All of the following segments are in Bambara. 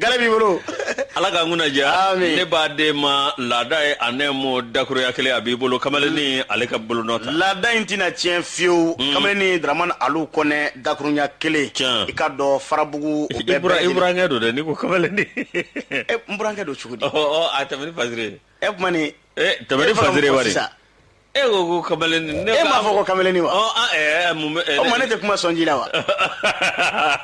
gale b'i bolo ala k'an kunna diya ne b'a den ma laada ye a nɛɛmo dakuruɲɛ kelen a b'i bolo kamalenni ale ka bolonɔ ta laada in tɛna tiɲɛ fiyewu mm. kamalenni daramani alu kɔnɛ dakuruɲɛ kelen i k'a dɔn farabugu o bɛɛ bɛɛ i burankɛ don dɛ n'i ko kamalenni e n burankɛ don cogo di ɔ a tɛmɛ ni fasiri ye kuma ni e tɛmɛ ni fasiri wari e ko ko kamalenni ne e m'a fɔ ko kamalenni wa ɔ an ɛɛ mun bɛ o tuma ne tɛ kuma sɔnji la wa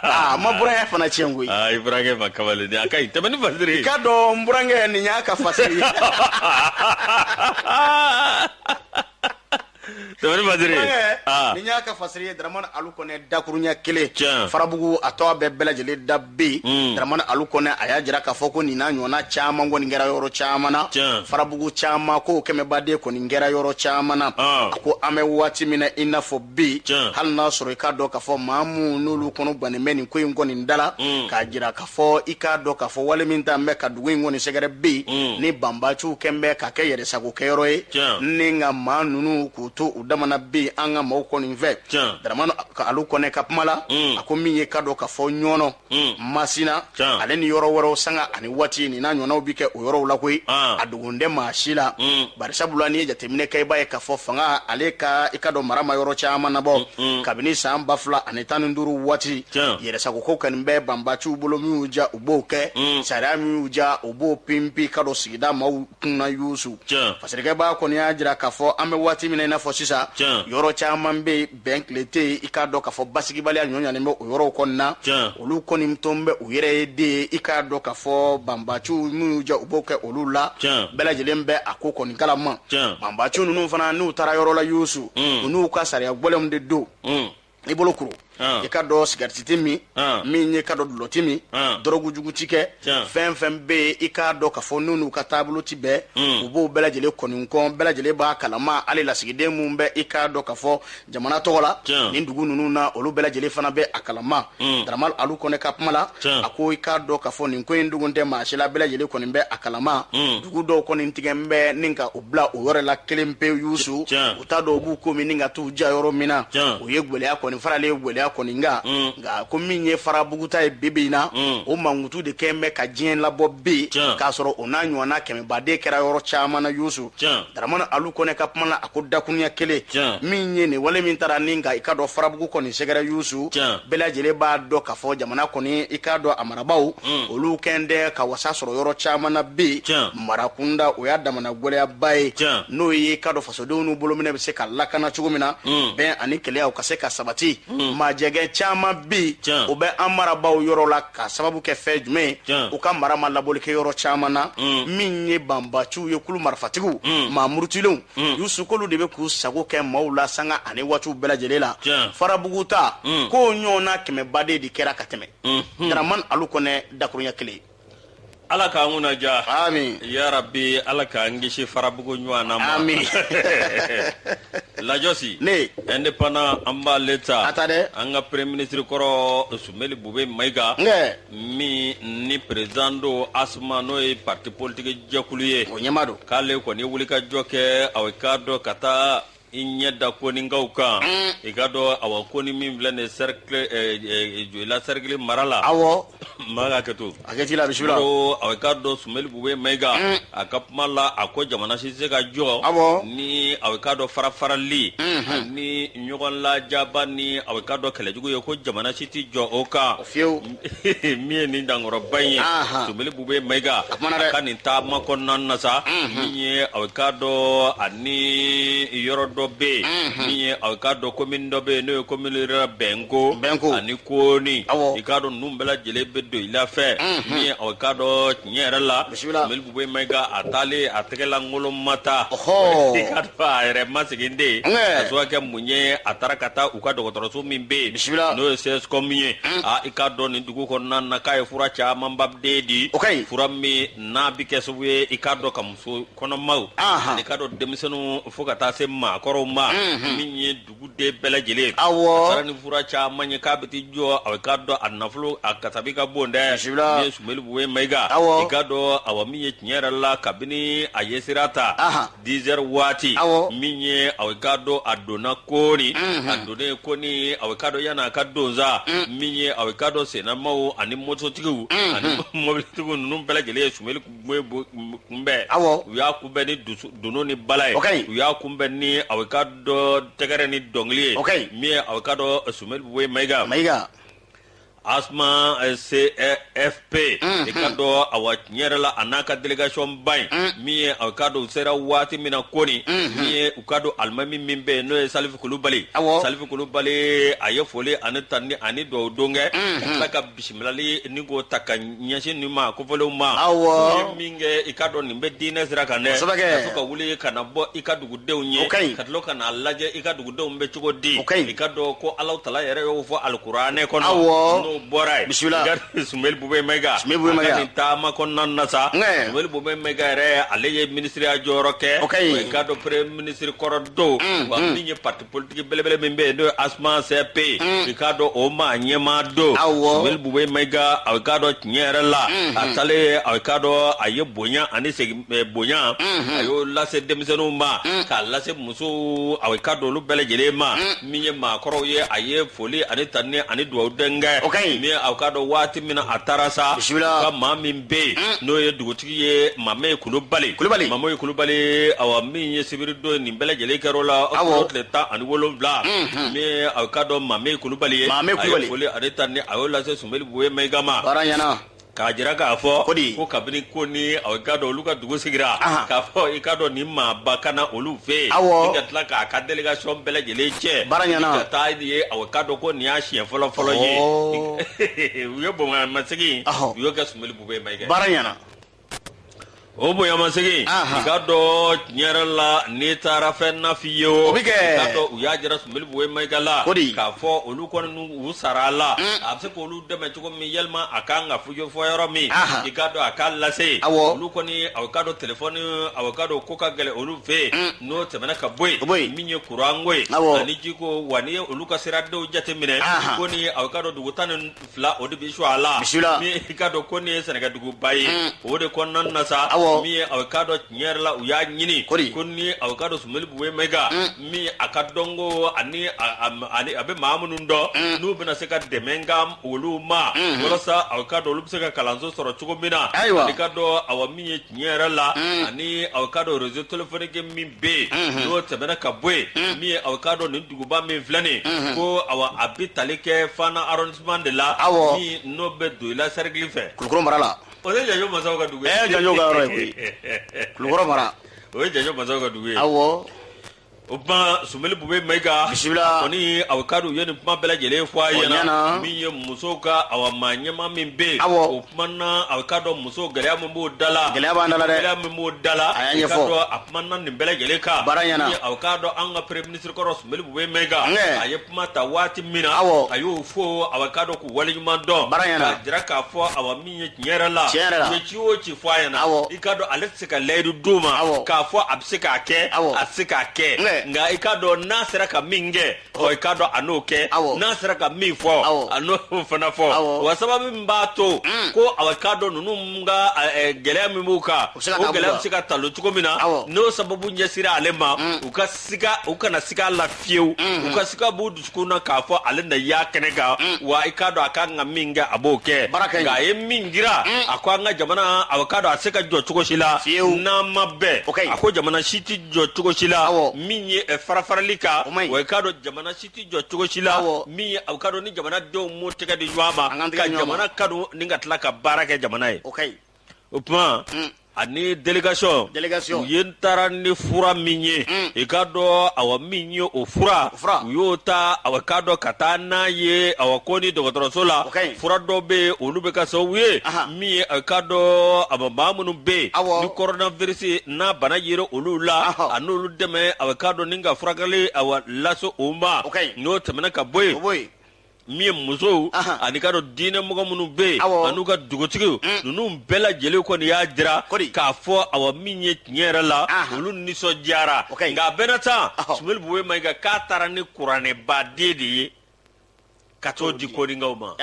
aa ma burankɛ fana tiɲɛ koyi aa i burankɛ ma kamalenni a ka ɲi tɛmɛ ni fasiri i k'a dɔn n burankɛ nin y'a ka fasiri ye tɛmɛ ni fasiri nin y'a ka fasiri ye daramani alu kɔnɛ dakuruɲɛ kelen farabugu a tɔgɔ bɛ bɛɛ lajɛlen da bi hmm. daramani alu kɔnɛ a y'a jira k'a fɔ ko nin n'a ɲɔgɔnna caman kɔni kɛra yɔrɔ caman na farabugu caman ko kɛmɛbaden kɔni kɛra yɔrɔ caman na ah. a ko an bɛ waati min na i n'a fɔ bi hali n'a sɔrɔ i k'a dɔn k'a fɔ maa minnu n'olu kɔnɔ gannen bɛ nin ko in kɔni da la hmm. k'a jira k'a fɔ i k'a dɔn k'a fɔ wale min taalen bɛ ka dugu in kɔni sɛgɛrɛ bi hmm. ni banbaciw kɛn bɛ ka kɛ yɛrɛsagokɛyɔrɔ ye ni nka maa ninnu k'u to u dama na bi an ka maaw kɔni fɛ daramani alu kɔnɛ ka kuma la mm. a ko min ye i k'a dɔn k'a fɔ ɲɔnɔ mm. masina ale ni yɔrɔ wɛrɛw sanga ani waati nin n'a ɲɔgɔnnaw bi kɛ o yɔrɔw la koyi ah. a dogon tɛ maa si la mm. barisabula n'i ye jateminɛ kɛ i b'a ye k'a fɔ fanga ale ka i k'a dɔn mara ma yɔrɔ caman nabɔ kabini san ba fila ani tan ni duuru waati yɛrɛsagokow kɔni bɛ banbaciw bolo min y'u diya u b'o kɛ sariya min y'u diya u b'o pinpi i k'a dɔn sigida maw kunna yusu fasirikɛbaa kɔni y'a jira k'a fɔ an bɛ waati min na i n'a fɔ sisan yɔrɔ caman bɛ yen bɛn kɛlen tɛ yen i k'a dɔn k'a fɔ basigibaliya ɲɔɲanen bɛ o yɔrɔw kɔni na olu kɔni tolen bɛ u yɛrɛ ye de yen i k'a dɔn k'a fɔ banbaciw min y'u diya u b'o kɛ olu la bɛɛ lajɛlen bɛ a ko kɔni kalama banbaciw ninnu fana n'u taara yɔrɔ la yusu u n'u ka sariya gɛlɛnw de don i bolo kuru i k'a dɔn sigariti ti min min ye i k'a dɔn dulɔ ti min dɔrɔgu jugu ti kɛ fɛn fɛn bɛ yen i k'a dɔn k'a fɔ n'o n'u ka taabolo ti bɛn u b'o bɛɛ lajɛlen kɔni kɔn bɛɛ lajɛlen b'a kalama hali lasigiden minnu bɛ i k'a dɔn k'a fɔ jamana tɔgɔ la nin dugu ninnu na olu bɛɛ lajɛlen fana bɛ a kalama daramani alu kɔnɛ ka kuma la a ko i k'a dɔn k'a fɔ nin ko in dogon tɛ maa si la bɛɛ lajɛlen kɔni bɛ a kalama dugu dɔw kɔni tigɛlen bɛ ni ka bila u yɛrɛ la kelen pe yusu u t'a dɔn u b'u ko min ka t'u ja yɔrɔ min na o ye gɛlɛya kɔni faralen ye gɛlɛya kɔni kan mm. nka ko min ye farabugu ta ye bibi in na mm. o mankutu de kɛn bɛ ka diɲɛ labɔ bi k'a sɔrɔ o n'a ɲɔgɔnna kɛmɛbaden kɛra yɔrɔ caman na yusu daramani alu kɔnɛ ka kuma la a ko dakuruɲɛ kelen min ye nin wale min taara ni nka i k'a dɔn farabugu kɔni sɛgɛrɛ yusu bɛɛ lajɛlen b'a dɔn k'a fɔ jamana kɔni i k'a dɔn a marabaaw mm. olu kɛn tɛ ka wasa sɔrɔ yɔrɔ caman na bi mara kunda o y'a damana gɛlɛyaba ye n'o ye k'a dɔn fasodenw n'u bolominɛn bɛ se ka lakana cogo min na hmm. bɛn ani kelenya u ka se ka sabati hmm. majɛgɛ caman bi o bɛ an marabaaw yɔrɔ la ka sababu kɛ fɛn jumɛn u ka mara ma labɔli kɛ yɔrɔ caman na hmm. min ye banbaanciw ye kulu marifatigiw maa murutilenw y'u sukolo de bɛ k'u sago kɛ maaw la sanga ani waatiw bɛɛ lajɛlen la farabugu ta k'o ɲɔgɔnna kɛmɛbaden de kɛra ka tɛmɛ daraman alu kɔnɛ dakurunya kelen ala k'an kunnadiya amiina yarabi ala k'an kisi farabugu ɲɔgɔnna ma amiina lajɔsi ne indépendant an b'ale ta a ta dɛ an ka premier ministre kɔrɔ sumeli bube mayiga min ni président don asma n'o ye pati politigi jɛkulu ye o ɲɛmaa don k'ale kɔni wulikajɔ kɛ aw k'a dɔn ka taa i ɲɛ da koninkaw kan i k'a dɔn awa koni min filɛ nin ye sɛrikili joyila sɛrikili mara la awɔ maa ka hakɛ to hakɛ t'i la bisimila ko i k'a dɔn sumeli bube mayiga a ka kuma la a ko jamana si tɛ se ka jɔ awɔ ni aw k'a dɔn farafarali ani ɲɔgɔn lajaba ni aw k'a dɔn kɛlɛjugu ye ko jamana si tɛ jɔ o kan fiyewu min ye nin dankɔrɔba in ye sumeli bube mayiga a ka nin taama kɔnɔna na sa min ye aw k'a dɔn ani yɔrɔ dɔ bɛ yen min ye aw k'a dɔn komin dɔ bɛ yen n'o ye komin rurale bɛnko ani kooni i k'a dɔn ninnu bɛɛ lajɛlen bɛ doyila fɛ min ye aw k'a dɔn Tiɲɛ yɛrɛ la Sumeli Bube Mayiga a taalen a tɛgɛlankolon ma taa, ɔhɔɔ, i k'a dɔn a yɛrɛ ma sigi ni den ye, ankɛ, k'a sababuya kɛ mun ye a taara ka taa u ka dɔgɔtɔrɔso min bɛ yen, bisimila, n'o ye CSCOM ye, un, aa i k'a dɔn nin dugu kɔnɔna na k'a ye fura camanba de di, o ka ɲi, fura min n'a bɛ kɛ sababu ye i k'a dɔn ka muso kɔnɔmaw, anhan, ani i k'a dɔn denmisɛnninw fo ka taa se maakɔrɔw ma, unhun, min ye Duguden bɛɛ lajɛlen a taara ni fura caman ye k'a bɛ jɔ aw k'a dɔn a nafolo a kasabi ka bon dɛ sumeli bube mayiga i k'a dɔn awa min ye tiɲɛ yɛrɛ la kabini a ye sira ta dix heures waati min ye aw k'a dɔn a donna koni a donnen koni aw k'a dɔn yanni a ka don sa min ye aw k'a dɔn sennamaw ani mototigiw ani mɔbilitigiw ninnu bɛɛ lajɛlen ye sumeli kunbɛn u y'a kunbɛn ni dunun ni bala ye u y'a kunbɛn ni aw k'a dɔn tɛgɛrɛ ni dɔnkili ye min ye aw k'a dɔn sumeli bube mayiga asma cfp i k'a dɔn awa tiɲɛ yɛrɛ la a n'a ka délégationba in min ye aw k'a dɔn u sera waati min na koni min ye u ka dugu alimami min bɛ yen n'o ye salifu kulubali salifu kulubali a ye foli ani tanuni ani dugawu don kɛ Bisimilali ni k'o ta ka ɲɛsin nin maa kofɔlenw ma aw min kɛ i ka dɔn nin bɛ diinɛ sira kan dɛ ka wuli ka na bɔ i ka dugudenw ye ka tila ka na a lajɛ i ka dugudenw bɛ cogo di i ka dɔn ko Alahu Taala yɛrɛ y'o fɔ alikuranɛ kɔnɔ aw bɔra ye bisimila Sumeyilu Bubɛyi Mayiga nin taama kɔnɔna na sa Sumeyilu Bubɛyi Mayiga yɛrɛ ale ye minisiriya jɔyɔrɔ kɛ i ka dɔn premier ministre kɔrɔ don wa min ye pa politique belebele min bɛ yen n'o ye Asma CFP i k'a dɔn o maa ɲɛmaa don Sumeyilu Bubɛyi Mayiga a k'a dɔn tiɲɛ yɛrɛ la a taalen ye a k'a dɔn a ye bonya ani segin bonya a y'o lase denmisɛnninw ma k'a lase musow a k'a dɔn olu bɛɛ lajɛlen ma min ye maakɔrɔw ye a ye foli ani tanuni ani dugawudon kɛ min a k'a dɔn waati min na a taara sa ka maa min bɛ yen n'o ye dugutigi ye Mameye Kulubali Kulubali Mameye Kulubali awa min ye sibiri don nin bɛɛ lajɛlen kɛra o la o tile tan ani wolonwula min aw ka dɔn Mameye Kulubali ye Kulubali foli ani tanuni a y'o lase Sumeyilu Bubɛyi Mayiga ma ɲɛna k'a jira k'a fɔ ko kabini ko ni aw ka dɔn olu ka dugu sigira k'a fɔ i ka dɔn ni maaba ka na olu fɛ yen aw ka tila k'a ka délégation bɛɛ lajɛlen cɛ ɲɛna ka taa n'u ye aw ka dɔn ko nin y'a siɲɛ fɔlɔ fɔlɔ ye u ye bonyamasegin u y'o kɛ Sumeyilu Bubɛyi Mayiga baara ɲɛna o bonyamasegin i ka dɔn tiɲɛ yɛrɛ la n'i taara fɛn nafi ye o bɛ kɛ u y'a jira Sumeyilu Bubɛyi Mayiga la o de k'a fɔ olu kɔni u sara a la a bɛ se k'olu dɛmɛ cogo min yalima a ka kan ka fujɛ fɔ yɔrɔ min i ka dɔn a ka lase a olu kɔni aw ka dɔn téléphone aw ka dɔn ko ka gɛlɛn olu fɛ yen n'o tɛmɛna ka bɔ yen min ye kuranko ye ani jiko wa n'i ye olu ka siradenw jateminɛ ko ni ye aw ka dɔn dugu tan ni fila o de bɛ su a la min i ka dɔn ko nin ye sɛnɛkɛduguba ye mm. o de kɔnɔna na sa min ye aw ka dɔn tiɲɛ yɛrɛ la u y'a ɲini ko ni aw ka dɔn Sumeyilu Bubɛyi Mayiga mm. min a ka dɔn ko ani a bɛ maa minnu dɔn mm. n'u bɛna se ka dɛmɛ ka olu ma walasa aw ka dɔn olu bɛ se ka kalanso sɔrɔ cogo min na i ka dɔn awa min ye tiɲɛ yɛrɛ la ani aw ka dɔn réseau téléphonique min bɛ yen n'o tɛmɛna ka bɔ yen min ye aw ka dɔn nin duguba min filɛ nin ko awa a bɛ tali kɛ Fana arrondissement de la min n'o bɛ Doyila cercle fɛ Kulukɔrɔ mara la o ye Janjo masaw ka dugu ye Janjo ka yɔrɔ ye koyi Kulukɔrɔ mara o ye Janjo masaw ka dugu ye awɔ. o tuma Sumeyilu Bubɛyi Mayiga bisimila kɔni aw ka dɔn u ye nin kuma bɛɛ lajɛlen fɔ a ɲɛna min ye musow ka awa maa ɲɛmaa min bɛ yen awɔ o kuma na a ka dɔn muso gɛlɛya min b'o da la gɛlɛya b'an da la dɛ gɛlɛya min b'o da la a y'a ɲɛfɔ a kuma na nin bɛɛ lajɛlen kan baara ɲɛna aw k'a dɔn an ka premier ministre kɔrɔ Sumeyilu Bubɛyi Mayiga a ye kuma ta waati min na awɔ a y'o fɔ aw k'a dɔn k'u waleɲuman dɔn baara ɲɛna k'a jira k'a fɔ awa ci o ci fɔ a ɲɛna i ka dɔn ale tɛ se ka layidu d'u ma k'a fɔ a bɛ se k'a kɛ a tɛ se k'a kɛ nka i ka dɔn n'a sera ka min kɛ i ka dɔn a n'o kɛ n'a sera ka min fɔ a n'o fana fɔ wa sababu min b'a to mm. ko a k'a dɔn ninnu ka gɛlɛya min b'u kan o gɛlɛya bɛ se ka talo cogo min na n'o sababu ɲɛsira ale ma mm. u ka siga u kana siga la fiyewu mhm. u ka siga b'u dusukun na k'a fɔ ale na y'a kɛnɛ kan mm. wa i k'a dɔn a ka kan ka min kɛ a b'o kɛ nka a ye min jira mm. a ko an ka jamana a k'a dɔn a se ka jɔ cogo si la n'an ma bɛn a ko jamana si tɛ jɔ cogo si la min ye eh, farafarali kan wa i k'a dɔn jamana si tɛ jɔ cogo si la min ye a k'a dɔn ni jamanadenw m'u tɛgɛ di ɲɔgɔn ma ka jamana kanu ni ka tila ka baara kɛ jamana ye. o tuma mm. ani délégation u ye n taara ni fura min ye mm. i k'a dɔn awa min ye o fura u y'o ta awa k'a dɔn ka taa n'a ye awa ko ni dɔgɔtɔrɔso la fura dɔw bɛ yen olu bɛ kɛ sababu ye min ye a k'a dɔn awa maa minnu bɛ yen ni kɔrɔnavirisi n'a bana yera olu la a n'olu dɛmɛ awa k'a dɔn ni ka furakɛli awa lase o ma n'o tɛmɛna ka bɔ yen min ye musow ani ka dɔn diinɛ mɔgɔ minnu bɛ yen an'u ka dugutigiw mm. ninnu bɛɛ lajɛlen kɔni y'a jira k'a fɔ awa min ye tiɲɛ yɛrɛ la olu nisɔndiyara nka a bɛɛ n'a ta sumeyilu bubɛyi mayiga k'a taara ni kuranɛbaden de ye ka t'o di koninkaw ma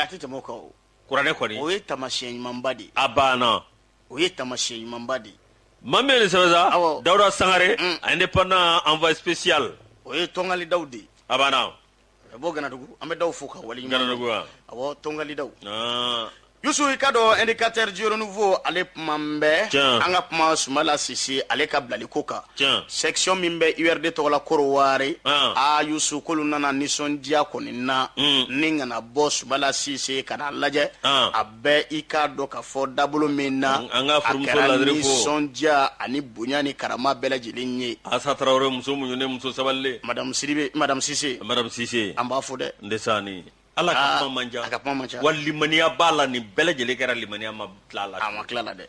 kuranɛ kɔni o ye tamasiyɛn ɲumanba de ye a banna o ye tamasiyɛn ɲumanba de ye maa min ye nin sɛbɛn sa dawuda sangare mm. a indépendant envoyé spécial o ye tongali daw de ye a banna A bɔ ganadugu an bɛ daw fo ka wali awɔ tongali daw yusu i ka dɔn indicateur du renouveau ale kuma bɛ an ka kuma sumala sise ale ka bilali ko kan section min bɛ urd tɔgɔ la korowari a yusu k'olu nana nisɔndiya kɔni na ni ka na bɔ sumala sise ka n'a lajɛ bɛ i k'a dɔn k'a fɔ dabolo min na An- an ka a furumuso kɛra ladiri fo. nisɔndiya ani bonya ni karama bɛɛ lajɛlen ye asa tarawele muso muɲunen muso sabalilen madamu siribe madamu sise madame sise an b'a fo dɛ ndesani ala ka Aa, kuma man ca a ka kuma man ca. wa limaniya b'a la nin bɛɛ lajɛlen kɛra limaniya ma tila a la a ma tila la dɛ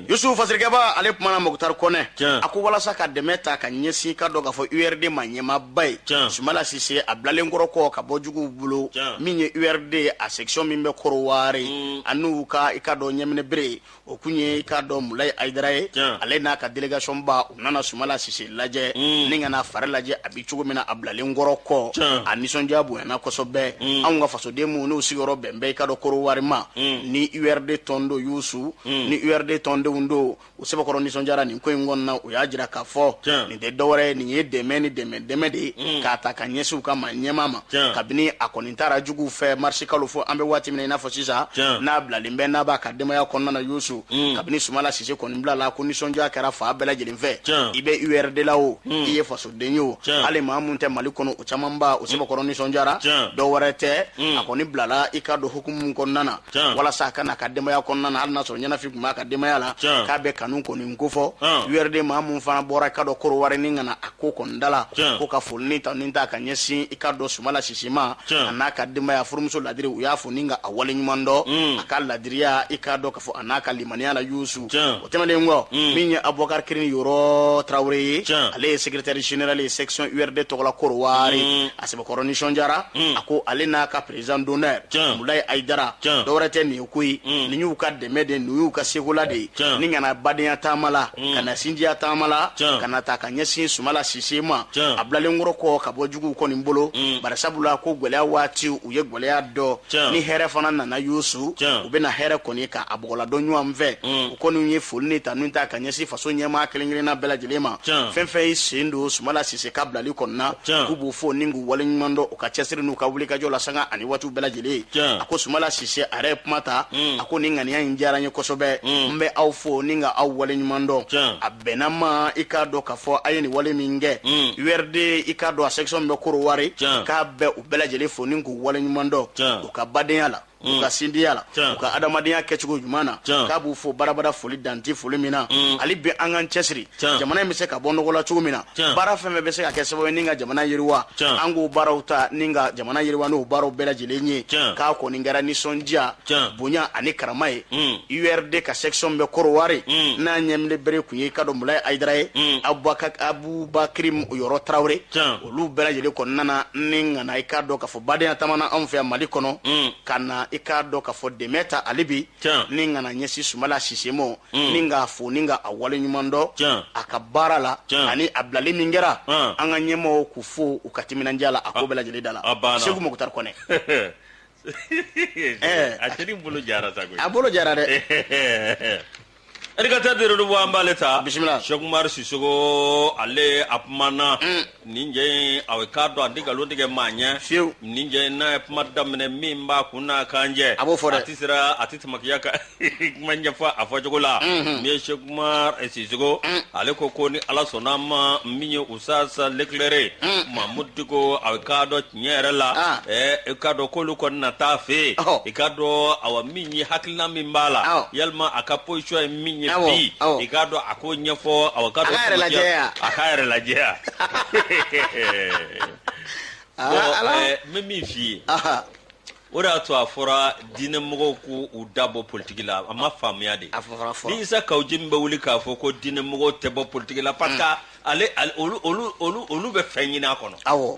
yusufu fasirikɛba ale kumana mukutari kɔnɛ a ko walasa ka dɛmɛ ta ka ɲɛsin k'a dɔn k'a fɔ urd maa ɲɛmaaba ye sumala sise a bilalen kɔrɔ kɔ ka bɔ juguw bolo min ye urd a section min bɛ korowari mm. a n'u ka i ka dɔn ɲɛminɛ bere o kun ye i ka dɔn mulayi ayidara ye ale n'a ka delegation ba u nana sumala sise lajɛ mm. ni ka n'a fari lajɛ a bi cogo min na a bilalen kɔrɔ kɔ a nisɔndiya bonyana kosɔbɛ mm. anw ka fasoden minnu n'u sigiyɔrɔ bɛn bɛ i ka dɔn korowari ma mm. ni urd tɔn don yusu ni urd tɔndenw don u sɛbɛkɔrɔ nisɔndiyara nin ko in kɔnɔna u y'a jira k'a fɔ nin tɛ dɔwɛrɛ ye nin ye dɛmɛ ni dɛmɛ dɛmɛ de ye k'a ta ka ɲɛsin u ka maa ɲɛmaa ma kabini a kɔni n taara juguw fɛ marisi kalo fo an bɛ waati min na i n'a fɔ sisan n'a bilalen bɛ n'a b'a ka denbaya kɔnɔna na yusu mm. kabini sumala sise kɔni bilala ko nisɔndiya kɛra fan bɛɛ lajɛlen fɛ i bɛ urd la o mm. i ye fasoden ye o hali maa min tɛ mali kɔnɔ o camanba u sɛbɛkɔrɔ nisɔndiyara dɔ wɛrɛ tɛ mm. a kɔni bilala i k'a dɔn hukumu kɔnɔna na walasa a ka na a ka denbaya kɔnɔna na hali n'a sɔrɔ ɲɛnafin tun b'a ka denbaya la k'a bɛ kanu kɔni k'o fɔ urd maa min fana bɔra i k'a dɔn kɔdiwari ni ka na a ko kɔni da la ko ka foli ni tanu ta ka ɲɛsin k'a dɔn sumala sise ma a n'a ka denbaya furumuso ladiri u y'a fo ni ka a wale ɲuman dɔn mm. a ka ladiriya i k'a dɔn k'a fɔ a n'a ka limaniya la yusu o tɛmɛnen kɔ mm. min ye abubakar kirini yɔrɔ tarawele ye ale ye sekretɛri general ye section urd tɔgɔla kɔdiwari mm. a sɛbɛkɔrɔ nisɔndiyara a ko ale n'a ka perezidan donɛr mulayi ayidara dɔ wɛrɛ tɛ nin ko ye mm. nin y'u ka dɛmɛ de n'u y'u ka sekola de ye ni ka na badenya taama la mm. ka na sinjiya taama la ka na ta ka ɲɛsin sumala sise ma a bilalenkɔrɔ kɔ ka bɔ juguw kɔni bolo mm. bari sabula ko gwɛlɛya waati u ye gwɛlɛya dɔn ni hɛrɛ fana nana yusu u bɛna hɛrɛ kɔni ka a bɔgɔladɔn ɲɔgɔn fɛ u kɔni ye foli ni tanu ta ka ɲɛsin faso ɲɛmaa kelen kelenna bɛɛ lajɛlen ma fɛn fɛn y'i sen don sumala sise ka bilali kɔnɔna k'u b'u fo ni k'u waleɲuman dɔn u ka cɛsiri n'u ka wulikajɔ la sanga ani waati u bɛɛ lajɛlen a ko sumala sise a yɛrɛ ye kuma ta a ko nin ŋaniya in diyara n ye kosɛbɛ n bɛ aw fo ni ka aw wale ɲuman dɔn a bɛnna ma i k'a dɔn k'a fɔ a ye nin wale min kɛ urd i k'a dɔn a section min bɛ kɔdiwari k'a bɛ u bɛɛ lajɛlen fo ni k'u wale ɲuman dɔn u ka badenya la u ka sinjiya la u ka adamadenya kɛcogo ɲuman na k'a b'u fo badabada foli dan tɛ foli min na hali bi an k'an cɛsiri jamana in bɛ se ka bɔ nɔgɔ la cogo min na baara fɛn fɛn bɛ se ka kɛ sababu ye ni ka jamana yiriwa an k'o baaraw ta ni ka jamana yiriwa n'o baaraw bɛɛ lajɛlen ye k'a kɔni kɛra nisɔndiya bonya ani karama ye urd hmm. ka section bɛ kɔdiwari hmm. n'a ɲɛminɛ bere tun ye i k'a dɔn mulaye ayidara ye hmm. abubakiri yɔrɔ tarawele olu bɛɛ lajɛlen kɔnɔna na ni ka na i k'a dɔn k'a fɔ badenya taama na anw fɛ yan mali kɔnɔ ka na i k'a dɔn k'a fɔ dɛmɛ ta hali bi ni ka na ɲɛsin sumala sise ma Mm. ni k'a fo ni ka a wale ɲuman dɔn a ka baara la ani a bilali min kɛra an ka ɲɛmɔgɔw k'u fo u ka timinandiya la a ko bɛɛ lajɛlen da la segu mukutari kɔnɛ eh. a cɛni bolo jara sa koyi a bolo jara dɛ Educateur de Renouveau an b'ale ta bisimila Sɛki Umaru Sisoko ale a kumana mm. nin cɛ in a k'a dɔn a tɛ nkalon tigɛ maa ɲɛ fiyewu nin cɛ in n'a ye kuma daminɛ min b'a kun na kan jɛ a b'o fɔ dɛ a tɛ siran a tɛ tamakiya ka kuma ɲɛfɔ a fɔcogo la min ye sɛki umaru sisoko ale ko ko ni ala sɔnna ma min ye usutazi lekilɛre mamudu diko a k'a dɔn tiɲɛ yɛrɛ la i ka dɔn k'olu kɔni na taa fɛ yen i ka dɔn awa min ye hakilina min b'a la yalima a ka position ye min ye bi i ka dɔn a k'o ɲɛfɔ awa ka dɔn a ka yɛrɛ lajɛya n bɛ min f'i ye o de y'a to a fɔra diinɛ mɔgɔw ko u da bɔ politiki la a ma faamuya dɛ ni isa kaw jimi bɛ wuli k'a fɔ ko diinɛ mɔgɔw tɛ bɔ politiki la parce que ale olu bɛ fɛn ɲini a kɔnɔ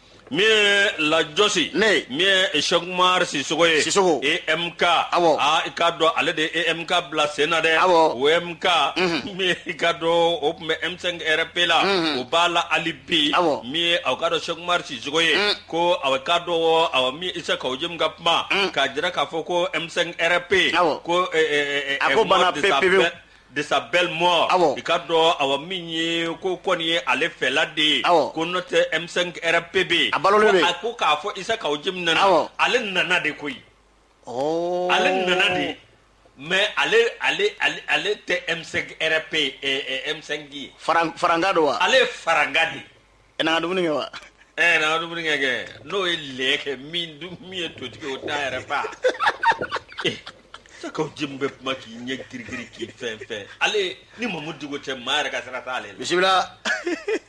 min ye lajɔsi Ne. min ye Cheikh Umar Sisoko ye Sisoko. EMK Awɔ. aa i k'a dɔn ale de ye EMK bila sen na dɛ Awɔ. o EMK min ye i k'a dɔn o tun bɛ M5 RP la o b'a la hali bi Awɔ. min ye aw k'a dɔn Cheikh Umar Sisoko ye ko aw k'a dɔn aw min Isa Kaw Jimi ka kuma k'a jira k'a fɔ ko M5 RP Awɔ. ko eh, eh, eh, A ko eh, banna Mohamed pe- Safɛ- pepewu. de sa belle mort i ka dɔn awa min ye ko kɔni ye ale fɛla de ye ko n'o tɛ M5 RP bɛ a balo a ko k'a fɔ isa kaw jimi nana ale nana de koyi ale nana de mais ale tɛ M5 RP M5 ye farankan don wa ale ye farankan de ye ɛ n'an ka dumuni kɛ wa ɛ eh, n'an ka dumuni kɛ kɛ n'o ye lɛ kɛ min min ye totigi o t'a yɛrɛ fa eh, isa kaw jimi bɛ kuma k'i ɲɛ girigiri k'i fɛn fɛn ale ni mamudu diko cɛ maa yɛrɛ ka sira t'ale la bisimila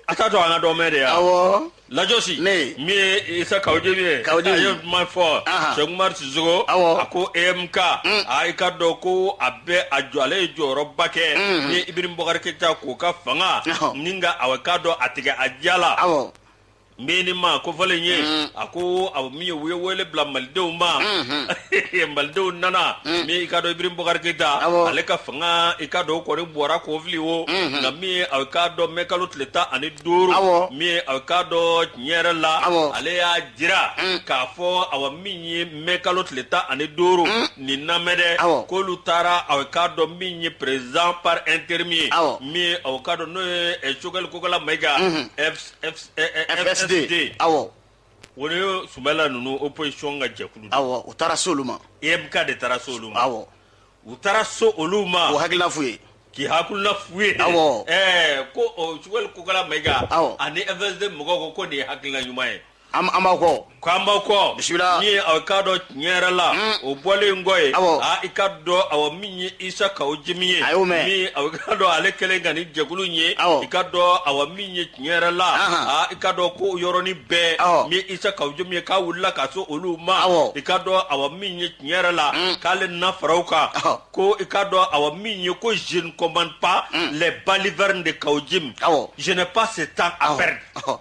a t'a to an ka dɔ mɛn de yan awɔ lajosi ne min ye isa kaw jimi ye kaw jimi a ye kuma fɔ sɛkumari sisoko awɔ a ko emk mm. a i ka dɔn ko a bɛ a jɔ ale ye jɔyɔrɔba kɛ Unhun. min ye ibrim bɔkari keyita k'o ka fanga Ɔhɔ. nka aw k'a dɔn a tigɛ a diya la awɔ n bɛ ni ma ko fɔlen ye Mm. a ko aw min ye u ye wele bila malidenw ma Mhm. malidenw nana Mm. min i ka dɔn ibrim bɔkari keyita Awɔ. ale ka fanga i ka dɔn o kɔni bɔra k'o fili o Mhm. nka min ye aw k'a dɔn mɛkalo tile tan ani duuru Awɔ. min ye aw k'a dɔn tiɲɛ yɛrɛ la Awɔ. ale y'a jira Mm. k'a fɔ aw min ye mɛ kalo tile tan ani duuru nin lamɛn dɛ k'olu taara aw k'a dɔn min ye président par intérim ye min aw ka dɔn n'o ye Choguel Kokala Mayiga awɔ o ni Sumayila ninnu opposition ka jɛkulu awɔ u taara se olu ma EMK de taara se olu ma awɔ u taara se olu ma o hakilina f'u ye k'i hakilina f'u ye awɔ ko Choguel Kokala Mayiga awɔ ani FSD mɔgɔw ko ko nin ye hakilina ɲuman ye an b'aw kɔ ko an b'aw kɔ bisimila min ye aw k'a dɔn tiɲɛ yɛrɛ la hmm. o bɔlen kɔ ye a i ka dɔn aw min ye isa kaw jimi ye a y'o mɛn min aw ka dɔn ale kɛlen ka ni jɛkulu ye i ka dɔn aw min ye tiɲɛ yɛrɛ la a i ka dɔn ko yɔrɔnin bɛɛ min isa kaw jimi ye k'a wulila ka se olu ma i ka dɔn aw min ye tiɲɛ yɛrɛ la hmm. k'ale na fara aw kan ko i ka dɔn aw min ye ko je ne commente pas hmm. les balivernes de kaw jimi je n'ai pas ce temps à perdre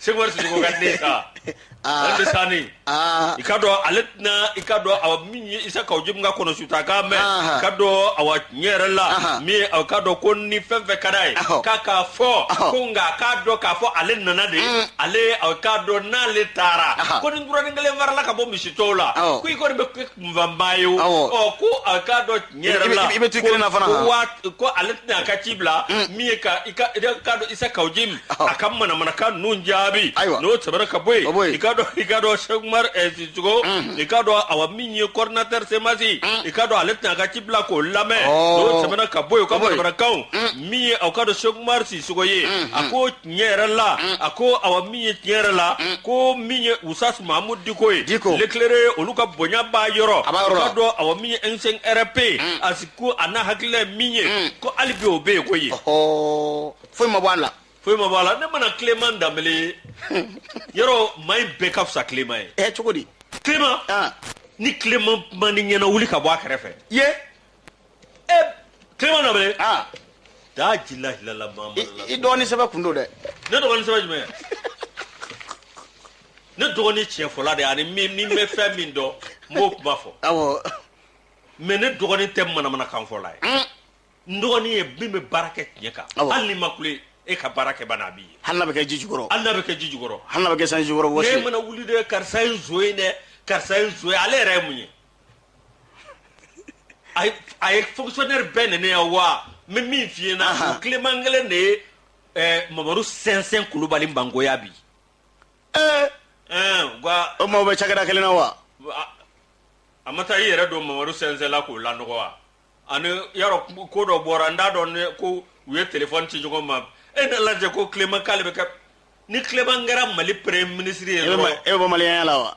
sɛkumar sisɔkɔ ka den sa ah. ale bɛ sa ni ah. i k'a dɔn ale tɛna i k'a dɔn awa min ye isa kaw jimu ka kɔnɔ suta k'a mɛn ah. k'a dɔn awa tiɲɛ yɛrɛ la min ye aw k'a dɔn ko ni fɛn fɛn ka d'a ye k'a k'a fɔ ko nka k'a dɔn k'a fɔ ale nana de mm. ale aw k'a dɔn n'ale taara ko ni nturanin kelen farala ka bɔ misi tɔw la ko i kɔni bɛ kunfanba ye o ɔ ko aw k'a dɔn i bɛ to kelen na fana ko ko ale tɛna a ka ci bila mm. min ye ka i ka ka dɔn isa kaw jim a ka manamanakan ninnu jaabi ayiwa n'o tɛmɛna ka bɔ yen i ka dɔn i ka dɔn sɛkumar sisɔkɔ eh, mm-hmm. i ka dɔn awa min ye coordinateur CMAS mm. i ka dɔn ale tɛna a ka ci bila k'o lamɛn oh. n'o tɛmɛna ka bɔ yen o ka manamanakanw mm. min ye aw k'a dɔn sɛkumar sisɔkɔ ye mm-hmm. a ko tiɲɛ yɛrɛ la mm. a ko awa min ye tiɲɛ yɛrɛ la mm. ko min ye usitazi mahamudu diko ye l'éclairé olu ka bonya b'a yɔrɔ a b'a yɔrɔ la dɔn awa min ye M5 RFP mm. a si ko a n'a hakilila ye min ye mm. ko hali bi o bɛ yen ko ye foyi ma bɔ a la foyi ma bɔ a la ne mana Clément danbele yɔrɔ maa in bɛɛ ka fisa Clément ye ɛ eh, cogo di Clément ah. ni Clément man di ɲɛna wuli ka bɔ a kɛrɛfɛ ye Clément Danbele, ah. daa jila hilala maa I- ma i dɔgɔnin sɛbɛ kun don dɛ ne dɔgɔnin sɛbɛ jumɛn ne dɔgɔnin tiɲɛ fɔla de ani ni n bɛ fɛn min dɔn n b'o kuma fɔ awɔ mais ne dɔgɔnin tɛ manamanakan fɔla ye Mm. n dɔgɔnin ye min bɛ baara kɛ tiɲɛ kan Awɔ. hali ni ma kule e ka baara kɛ bana a b'i ye hali n'a bɛ kɛ ji jukɔrɔ hali n'a bɛ kɛ ji jukɔrɔ hali n'a bɛ kɛ sanji jukɔrɔ ne wɔsi mana wuli dɛ karisa ye nson ye dɛ karisa ye nson ye ale yɛrɛ ye mun ye a ye a ye fonctionnaire bɛɛ nɛni yan wa n bɛ min f'i ɲɛna Ahan. o Clément kelen de ye ɛɛ mamadu sɛnsɛn kulubali mangoya bi ee ɛɛ u ka o maaw bɛ cakɛda kelen na wa a- a ma taa i yɛrɛ don mamadu sɛnsɛn la k'o lanɔgɔ wa ani yarɔ ko dɔ bɔra n t'a dɔn ne ko u ye telefɔni ci ɲɔgɔn ma e na lajɛ ko Clément k'ale bɛ kɛ ni Clément kɛra mali premier ministre ye e bɛ ma- dɔrɔn e bɛ bɔ maliyɛnya la wa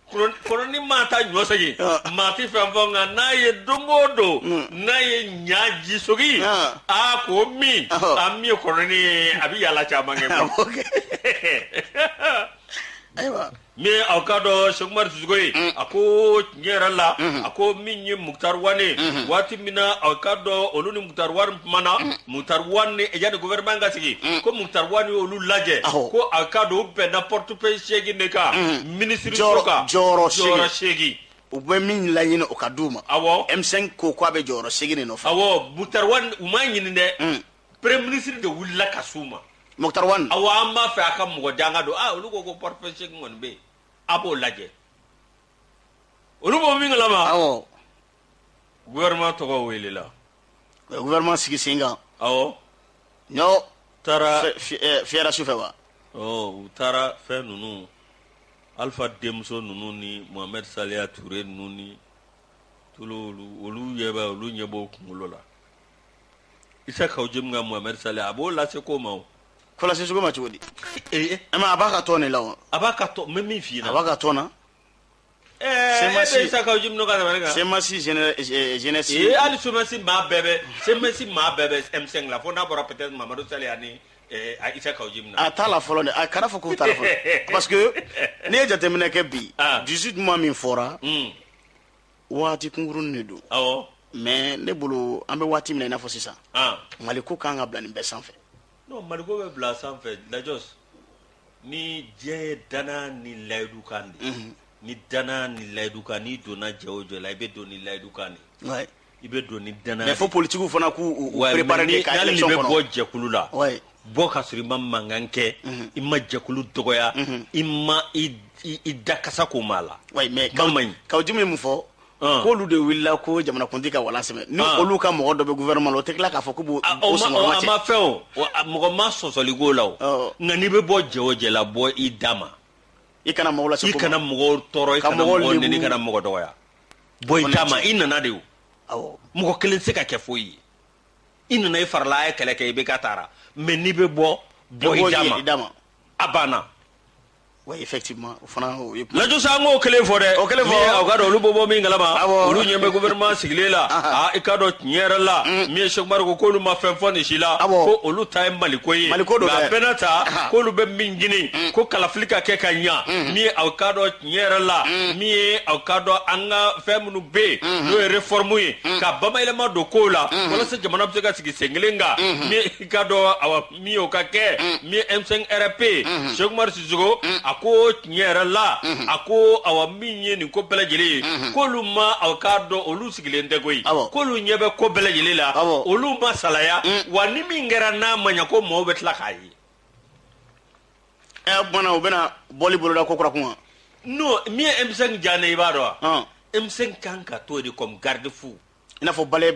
Kɔnɔnin maa taa ɲɔ sɔgi maa tɛ fɛn fɔ nka n'a ye don o don n'a ye ɲɛji sɔgi a ko min a min ye kɔnɔnin ye a bɛ yalala caman kɛ ayiwa min aw k'a dɔn sɛkumar sisɔkɔ ye a ko tiɲɛ yɛrɛ la a ko min ye mukutari wani waati min na aw k'a dɔn olu ni mukutari wani mana mukutari wani y'a gouvernement ka sigi ko mukutari wani olu lajɛ ko aw k'a dɔn bɛnna portefeuille seegin de kan minisiri jɔyɔrɔ kan jɔyɔrɔ jɔyɔrɔ seegin u bɛ min laɲini o ka di u ma awɔ M5 ko k'u bɛ jɔyɔrɔ seegin de nɔfɛ awɔ Mukutari Wani u m'a ɲini dɛ hmm. premier ministre de wulila ka s'u ma Mukutari Wani awɔ an b'a fɛ a ka mɔgɔ di an ka don aa ah, olu ko ko portefeuille seegin kɔni bɛ yen a b'o lajɛ olu b'o min kalama awɔ gouvernement tɔgɔ welela u ye gouvernement sigi sen kan awɔ ɲɔ taara fiyɛra su fɛ wa u taara fɛn ninnu alpha denmuso ninnu ni mohamed saliya ture ninnu ni tulu olu ɲɛ bɛ olu ɲɛ b'o kunkolo la isa kaw jim ka mohamed saliya a b'o lase ko ma o kɔlɔsi sugu ma cogo di a b'a ka tɔn de la wa a b'a ka tɔn n bɛ min f'i ɲɛna a b'a ka tɔn na ɛɛ e Semasi. isa kaw jimi n'o ka tɛmɛ ne kan semasi géné- eh, jeunesse ee hali semasi maa bɛɛ bɛ semasi maa bɛɛ bɛ m5 la fo n'a bɔra peut-être mamadu saliya ni ɛɛ, a isa kaw jimi na a t'a la fɔlɔ dɛ a kana fɔ k'u t'a la fɔlɔ parce que n'i ye jateminɛ kɛ bi Ah. 18 mois min fɔra Hmm, waati kunkuruni de don awɔ mais ne bolo an bɛ waati min na i n'a fɔ sisan ah. maliko k'an k'a bila nin bɛɛ sanfɛ N'o maliko bɛ bila sanfɛ lajɔ ni jɛ ye dannaya ni layidu kan de ni dannaya ni layidu kan n'i donna jɛ o jɛ la i bɛ don ni layidu kan de i bɛ don ni dannaya mɛ fo politigiw fana k'u préparer de ka élection kɔnɔ n'i bɛ bɔ jɛkulu la bɔ ka sɔrɔ i ma mankan kɛ i ma jɛkulu dɔgɔya i ma i da kasa ko maa la mɛ kaw jimi ye min fɔ Ah. k'olu de wulila ko jamanakuntigi ka wala sɛmɛ ni ah. olu ka mɔgɔ dɔ bɛ gouvernement la o tɛ tila k'a fɔ k'o bɔ ah, o sɔngɔrɔma cɛ a ma fɛn o mɔgɔ ma sɔsɔli k'o la o oh. nka n'i bɛ bɔ jɛ o jɛ la bɔ i da ma i kana mɔgɔ lase i kana mɔgɔ tɔɔrɔ i kana mɔgɔ nɛni i kana mɔgɔ dɔgɔya bɔ i da ma i nana de o awɔ mɔgɔ kelen tɛ se ka kɛ foyi ye i nana i farala a ye kɛlɛ kɛ i bɛ ka taara mɛ n'i bɛ bɔ bɔ i da ma a banna wa effectivement o fana o ye kuma- lajɔ sa an k'o kelen fɔ dɛ O kelen fɔ. Min ye aw k'a dɔn olu bɛ bɔ min kalama Awɔ. olu ɲɛ bɛ gouvernement sigilen la a i k'a dɔn tiɲɛ yɛrɛ la min ye Sɛku Umaru ko k'olu ma fɛn fɔ nin si la Awɔ. ko olu ta ye maliko ye Maliko don nka a dɛ. bɛɛ n'a ta Aha. k'olu bɛ min ɲini ko kalafili ka kɛ ka ɲa min ye aw k'a dɔn tiɲɛ yɛrɛ la min ye aw k'a dɔn an ka fɛn minnu bɛ yen n'o ye reformu ye ka bamayɛlɛma don kow la walasa jamana bɛ se ka sigi sen kelen kan min ye i k'a dɔn awa min o ka kɛ min ye m5 rfp sɛkumari sisɔkɔ a ko tiɲɛ yɛrɛ la a ko awa min ye nin ko bɛɛ lajɛlen ye k'olu ma aw k'a dɔn olu sigilen tɛ koyi k'olu ɲɛ bɛ ko bɛɛ lajɛlen la olu ma salaya wa ni min kɛra n'a ma ɲɛ ko maaw bɛ tila k'a ye ɛ bɔnna u bɛna bɔli boloda kokura kun n'o min ye m5 diya ne i b'a dɔn wa m5 kan ka to de kɔmi garde-fou i n'a fɔ balai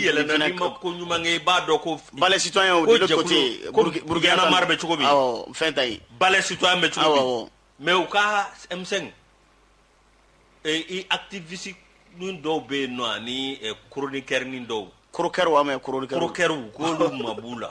yɛlɛna ma ko ɲuman i b'a dɔn ko balai si burukina mari bɛ cogo min fɛn ta yen balai si bɛ cogo mɛ u ka emisɛn atifisi min dɔw bɛ yen nɔ ani koronikɛri dɔw korokɛ mɛ korokɛw k'olu ma b'u la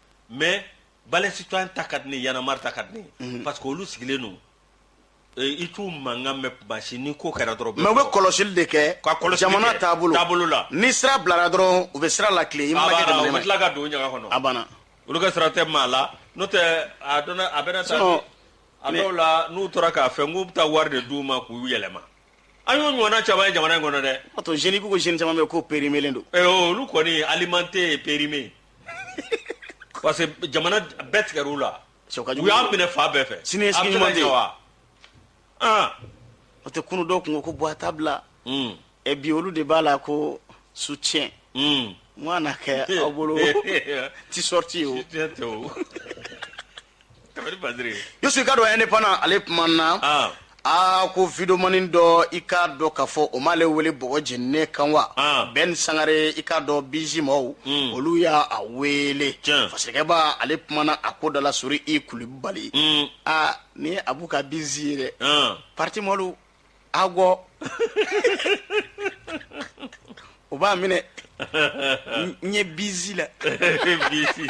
mais Balai citoyen ta ka di ni Y'en a marre ta ka di parce que olu sigilen don i t'u mankan mɛn machin ni ko kɛra dɔrɔn mais bɛ kɔlɔsili de kɛ jamana taabolo la ni sira bilara dɔrɔn u bɛ sira latilen i tila ka don ɲaga kɔnɔ a banna olu ka sira tɛ maa la n'o tɛ a dɔn a bɛ sa a dɔw la n'u tora k'a fɛ k'u bɛ taa wari de d'u ma k'u yɛlɛma an y'o ɲɔgɔnna caman ye jamana in kɔnɔ dɛ a to zeni ko zeni caman bɛ ko périmélen don olu kɔni alimentaire périmé parce que jamana bɛɛ tigɛra u la Cɛ, o ka jugu. u y'a minɛ fan bɛɛ fɛ Sini ye A bɛ sini se ka ɲuman tɛ ɲɛ ye. wa? Ah, o tɛ kunun dɔw kun ko ko Bua t'a bila mm, ɛ bi olu de b'a la ko soutien mm. n ka na kɛ aw bolo tisɔriti o Tiɲɛ tɛ o. Yusu i k'a dɔn Indépendant ale kumana aa ko videomani dɔ i k'a dɔn k'a fɔ o m'ale wele bɔgɔ jeninen kan wa bɛn sangare i k'a dɔn bizi maaw olu y'a wele fasirikɛbaa ale kumana a ko da la sori i kulibali aa ni a b'u ka bizi ye dɛ pati malo awɔ o b'a minɛ n ye bizi la bizi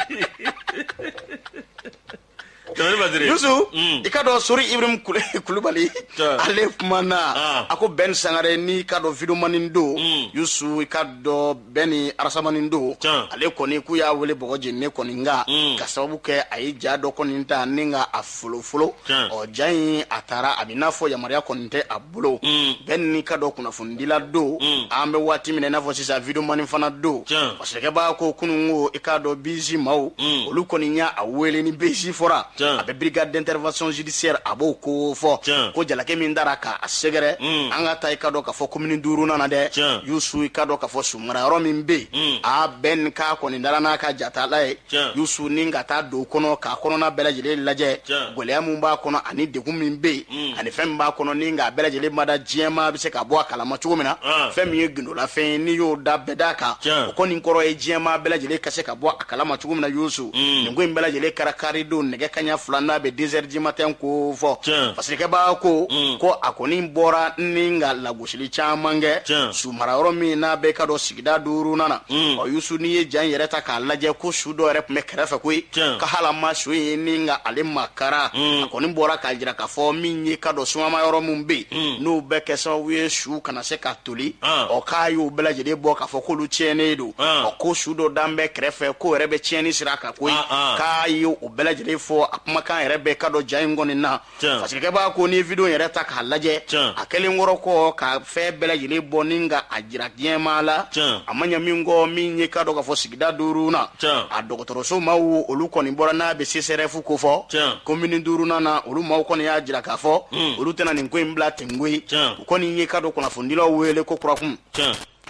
yusu mm. i k'a dɔn sori ibrahim kulubali ale kumana ah. a ko bɛn sangare n'i k'a dɔn videomani don mm. yusu i k'a dɔn bɛn ni arasamani don ale kɔni k'u y'a wele bɔgɔ jeninen kɔni nka ka sababu kɛ a ye ja dɔ kɔni ta ni ka a folofolo ɔ ja in a taara a bɛ n'a fɔ yamaruya kɔni tɛ a bolo bɛn n'i k'a dɔn kunnafonidila don an bɛ waati min na i n'a fɔ sisan videomani fana don fasirikɛbaa ko kunun ko i k'a dɔn bizi maaw olu kɔni y'a wele ni bizi fɔra a bɛ brigade d'intervention judiciaire a b'o ko fɔ ko jalaki min taara k'a sɛgɛrɛ mm. an ka taa i k'a dɔn k'a fɔ komini duurunan na dɛ yusu i k'a dɔn k'a fɔ su mara yɔrɔ min bɛ yen mm. a bɛn k'a kɔni taara n'a ka jatala ye yusu ni ka taa don kɔnɔ k'a kɔnɔna bɛɛ lajɛlen lajɛ gɛlɛya min b'a kɔnɔ ani degun min bɛ yen mm. ani fɛn min b'a kɔnɔ ni nka a bɛɛ lajɛlen ma da diɲɛ maa bɛ se ka bɔ a kalama cogo min na ah. fɛn min ye gindolafɛn ye n'i y'o da bɛda kan o kɔni kɔrɔ ye diɲɛ maa bɛɛ lajɛlen ka se ka bɔ a kalama cogo min na yusu mm. nin ko in bɛɛ lajɛlen kɛra karidon nɛgɛ kanɲɛ fila n'a bɛ deux heures du matin ko fɔ fasirikɛbaa ko mm. ko a kɔni bɔra ni nka lagosi sili caman kɛ Tiɲɛ. su mara yɔrɔ min n'a bɛ k'a dɔn sigida duurunan na Mm. ɔ yusu n'i ye ja in yɛrɛ ta k'a lajɛ ko su dɔ yɛrɛ tun bɛ kɛrɛfɛ koyi Tiɲɛ. ka hali a ma su ye ni nka ale makara Mm. a kɔni bɔra k'a jira k'a fɔ min ye k'a dɔn sumaya yɔrɔ min bɛ yen Mm. n'o bɛ kɛ sababu ye su kana se ka toli Ah. ɔ k'a y'o bɛɛ lajɛlen bɔ k'a fɔ k'olu tiɲɛnen don Ah. ɔ ko su dɔ dalen bɛ kɛrɛfɛ k'o yɛrɛ bɛ tiɲɛni sira kan koyi Ah, ah. k'a ye o bɛɛ lajɛlen fɔ a kumakan yɛrɛ bɛ k'a dɔn ja in kɔni na fasikɛ b'a ko ni wideyo yɛrɛ ta k'a lajɛ a kɛlen kɔrɔ kɔ ka fɛn bɛɛ lajɛlen bɔ ni ka a jira diɲɛmaa la a ma ɲɛ min kɔ min ye i k'a dɔn k'a fɔ sigida duuru na a dɔgɔtɔrɔso maaw olu kɔni bɔra n'a bɛ sesɛrɛfu ko fɔ komini duuru na olu maaw kɔni y'a jira k'a fɔ olu tɛna nin ko in bila ten koyi u kɔni ye i k'a dɔn kunnafonidilaw wele ko kurakun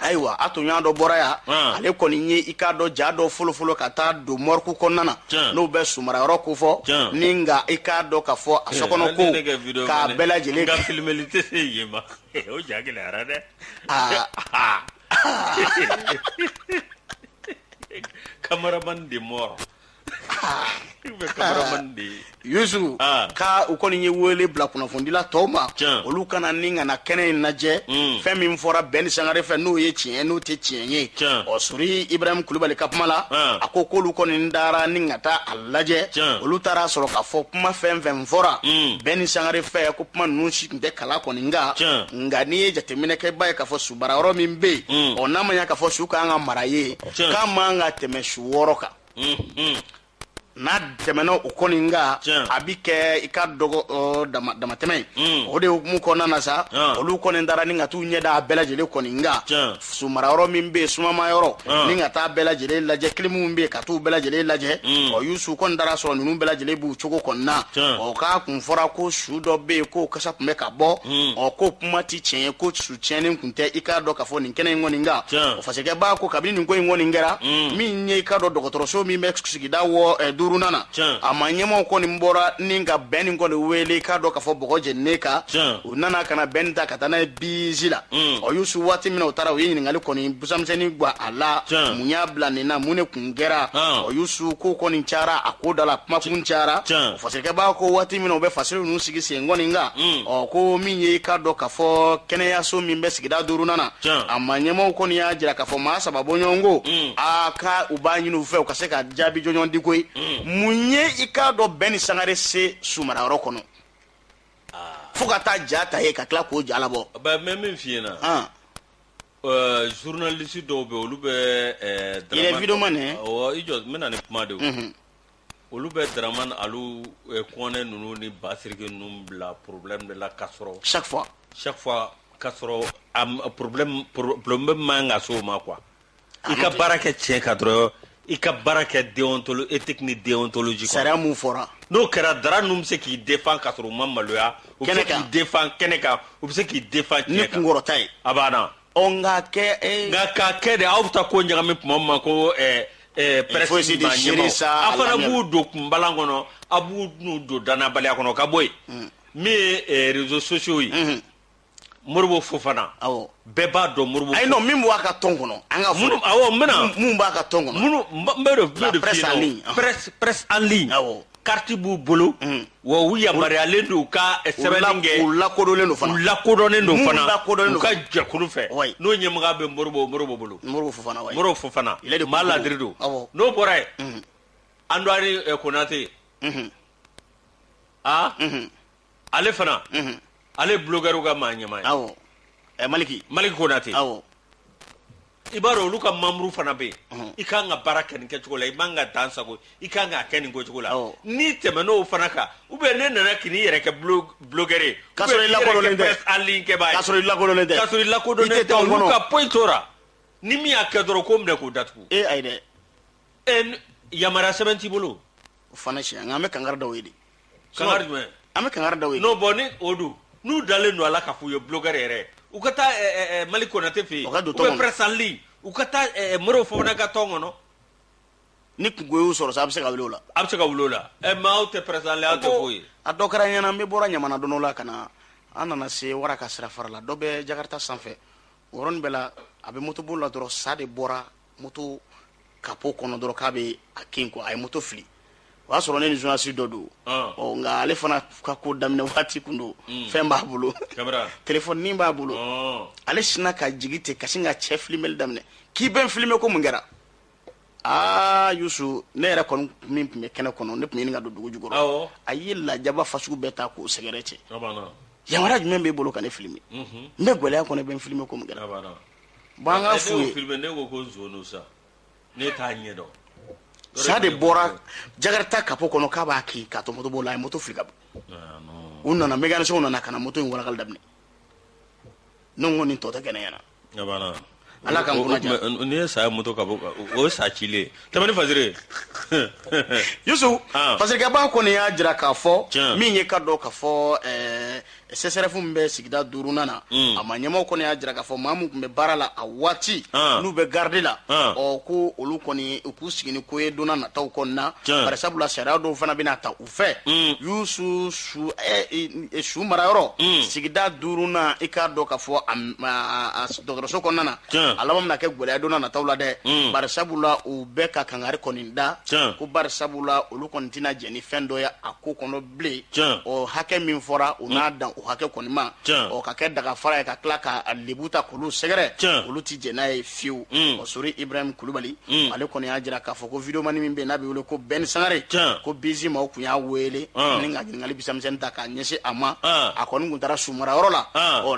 ayiwa a tun y'a dɔ bɔra yan ah. ale kɔni ye i k'a dɔn ja dɔ folofolo ka taa don mɔriku kɔnɔna na n'u bɛ sumara yɔrɔ ko fɔ ni nka i k'a dɔn k'a fɔ a sokɔnɔ ko k'a bɛɛ lajɛlen ka filimeli tɛ se yen ma o ja gɛlɛyara dɛ kamaramani de mɔrɔ Yusu ah. ka u kɔni ye wele bila kunnafonidila tɔw ma olu ka na ni ka na kɛnɛ in lajɛ hmm. fɛn min fɔra Bɛni Sangare fɛ n'o ye tiɲɛ n'o tɛ tiɲɛ ye ɔ sori ibrahim kulubali ka kuma la ah. a ko k'olu kɔni taara ni ka taa a lajɛ olu taara sɔrɔ k'a fɔ kuma fɛn fɛn fɔra hmm. Bɛni Sangare fɛ ko kuma ninnu si tun tɛ kala kɔni kan nka n'i ye jateminɛ kɛ i b'a ye k'a fɔ sumara yɔrɔ min bɛ yen hmm. ɔ n'a ma ɲɛ k'a fɔ su ka kan ka mara yen k'a man ka tɛmɛ su wɔɔrɔ kan n'a tɛmɛna o kɔni kan a bɛ kɛ i k'a dɔn ko damatɛmɛ mm. o de hukumu kɔnɔna na sa olu kɔni taara ni ka t'u ɲɛ da a bɛɛ lajɛlen kɔni kan sumara yɔrɔ min bɛ yen sumama yɔrɔ ni ka taa bɛɛ lajɛlen lajɛ kilimu min bɛ yen ka t'u bɛɛ lajɛlen lajɛ mm. ɔ Yusu kɔni taara sɔrɔ ninnu bɛɛ lajɛlen b'u cogo kɔni na ɔ k'a kun fɔra ko su dɔ bɛ yen k'o kasa tun bɛ ka bɔ mm. ɔ k'o kuma tɛ tiɲɛ ye ko su tiɲɛnen kun tɛ i k'a dɔn k'a fɔ nin kɛnɛ in kɔni kan o fasikɛ b'a ko kabini nin ko in kɔni kɛra mm. min ye i k'a dɔn dɔgɔtɔrɔso min bɛ sigida wɔ eh, duurunan na a ma ɲɛmaaw kɔni bɔra ni ka Bɛni kɔni wele i k'a dɔn k'a fɔ bɔgɔ jeninen kan u nana ka na Bɛni ta ka taa n'a ye bizi la mm. ɔ Yusu waati min na u taara u ye ɲininkali kɔni busamisɛnnin gwan a la mun y'a bila nin na mun ne nin kɛra ɔ yusu ko kɔni cayara a ko da la kuma kun cayara fasikɛ b'a ko waati min na u bɛ fasiri ninnu sigi sen kɔni kan mm. ɔ ko min ye i k'a dɔn k'a fɔ kɛnɛyaso min bɛ sigida duurunan na a ma ɲɛmaaw kɔni y'a jira k'a fɔ maa saba bɔ ɲɔgɔn ko mm. a ka u b'a ɲini u fɛ u ka se ka jaabi jɔnjɔn di koyi mm. mun ye i k'a dɔn Bɛni Sangare se sumarayɔrɔ kɔnɔ ah. fo ka taa ja ta yen ka tila k'o ja labɔ. mɛ min f'i ɲɛna. Euh, journaliste dɔw bɛ olu bɛ euh, il est vidéoman hein? oh, i jɔ n bɛna ni kuma de ye mhm. olu bɛ Dramane Alu euh, Kɔnɛ ninnu ni Basiriki ninnu bila problème de la k'a sɔrɔ chaque fois chaque fois k'a sɔrɔ problème problème man kan ka s'o ma quoi i ka baara kɛ tiɲɛ kan dɔrɔn i ka baara kɛ déontolo éthique ni déontologie kɔnɔ sariya mun fɔra n'o kɛra dara ninnu bɛ se k'i défend ka sɔrɔ u ma maloya u bɛ se k'i défend kɛnɛ kan u bɛ se k'i défend tiɲɛ kan ni kunkɔrɔta ye a banna ɔ nka kɛ eh, nka k'a kɛ de aw bɛ taa ko ɲagami tuma min ma ko eh, eh, presse maa ɲɛmaaw a fana b'u don kunbalan kɔnɔ a b'u n'u don dannabaliya kɔnɔ ka bɔ yen hmm. min ye réseaux sociaux ye hmm. moribo fofana awɔ bɛɛ b'a dɔn moribo ayi non min b'a ka tɔn kɔnɔ an ka minnu awɔ n bɛna minnu b'a ka tɔn kɔnɔ minnu n b'o de f'u de f'i ɲɛna ah. presse presse en ligne awɔ carte b'u bolo mm. wa u yamaruyalen don u ka eh, sɛbɛnni kɛ u lakodɔnlen don fana u lakodɔnlen don fana u lakodɔnlen don u ka jɛkulu fɛ n'o ɲɛmɔgɔya bɛ moribo moribo bolo moribo fofana wa moribo fofana ale de maa ladiri don awɔ n'o bɔra yen mm. an dɔgɔnin eh, konate aa mm-hmm. ah? mm-hmm. ale fana ale bulogɛriw ka maa ɲɛmaa ye awɔ ɛ maliki maliki konate awɔ i b'a dɔn olu ka membre fana bɛ yen i kan ka baara kɛ nin kɛcogo la i man ka dan sago i kan k'a kɛ nin kɛcogo la n'i tɛmɛn'o fana kan ou bien n'e nana k'i n'i yɛrɛ kɛ bulogɛri ye k'a sɔrɔ i lakodɔnnen tɛ en ligne kɛbaa k'a sɔrɔ i lakodɔnnen tɛ k'a sɔrɔ i lakodɔnnen tɛ olu ka foyi t'o ra ni min y'a kɛ dɔrɔn k'o minɛ k'o datugu ee ayi dɛ yamaruya sɛbɛn t'i bolo o fana tiɲɛ nka an bɛ kankari d'aw ye de kankari jumɛn an bɛ kankari d'aw ye non bon ni o don n'u dalen don a la k'a f'u ye bulogɛri yɛrɛ u ka taa eh, eh, eh, maliki konate fɛ yen u ka don tɔn kɔnɔ. presse en ligne u ka taa eh, eh, moribo fofana ka tɔn kɔnɔ ni kunko y'u sɔrɔ sa a bɛ se ka wuli o la a bɛ se ka wuli o la Eh, mais aw tɛ presse en ligne aw tɛ foyi ye a dɔ kɛra n ɲɛna n bɛ bɔra ɲamana don dɔ la ka na an nana se wara ka sira fara la dɔ bɛ jakarita sanfɛ o yɔrɔnin bɛɛ la a bɛ motoboli la dɔrɔn sa de bɔra moto kapo kɔnɔ dɔrɔn k'a bɛ a kin quoi a ye moto fili o y'a sɔrɔ ne ni journaliste dɔ don ah. ɔ nka ale fana ka ko daminɛ waati kun don hmm. fɛn b'a bolo telefɔni b'a bolo ah. ale sinna ka jigi ten ka sin ka cɛ filimeli daminɛ k'i bɛ n filime ko mun kɛra aa yusu ne yɛrɛ kɔni min tun bɛ kɛnɛ kɔnɔ ne tun ɲini ka don dugu jukɔrɔ a ye lajaba fasugu bɛɛ ta k'o sɛgɛrɛ cɛ yamaruya jumɛn b'e bolo ka ne filime mhm. n bɛ gɛlɛya kɔnɔ bɛ n filime ko mun kɛra Bon n k'a f'u ye ne ko ko sa ne t'a ɲɛ dɔn sa de bɔra jakarata kapo kɔnɔ k'a b'a kin k'a to motoboli la a ye moto fili ka bɔ u nana mécanicien nana ka na moto in warakali daminɛ ne ko nin tɔ tɛ kɛ ne ɲɛna ala ka n ye saya moto ka bɔ o ye sa cilen tɛmɛ fajre ye parce que b'a kɔni y'a jira k'a fɔ min ye ka dɔn ka fɔ sesɛrɛfu min bɛ sigida duurunan na mm. a maa ɲɛmaa kɔni y'a jira k'a fɔ maa min tun bɛ baara la a waati ah. n'u bɛ garidi la ah. ɔ ko olu kɔni u k'u sigi ni ko ye donna nataw kɔni na bari sabula sariya dɔw fana bɛna ta u fɛ mm. y'u su su ɛ su marayɔrɔ mm. sigida duurunan i k'a dɔn k'a fɔ a dɔgɔtɔrɔso kɔnɔna na a laban bɛna kɛ gɛlɛya donna nataw la dɛ bari sabula u bɛɛ ka kangari kɔni da ko bari sabula olu kɔni tɛna jɛ ni fɛn dɔ ye a ko kɔnɔ bilen o hakɛ min fɔra u n'a dan o hakɛ kɔni ma o ka kɛ dagafara ye ka tila ka lebu ta k'olu sɛgɛrɛ olu tɛ jɛ n'a ye fiyewu o sori ibrahim kulubali ale kɔni y'a jira k'a fɔ ko videomani min bɛ n'a bɛ wele ko bɛn sangare ko bizi maaw tun y'a wele ni ka ɲininkali misɛnmisɛnnin ta k'a ɲɛsin a ma a kɔni tun taara sumarayɔrɔ la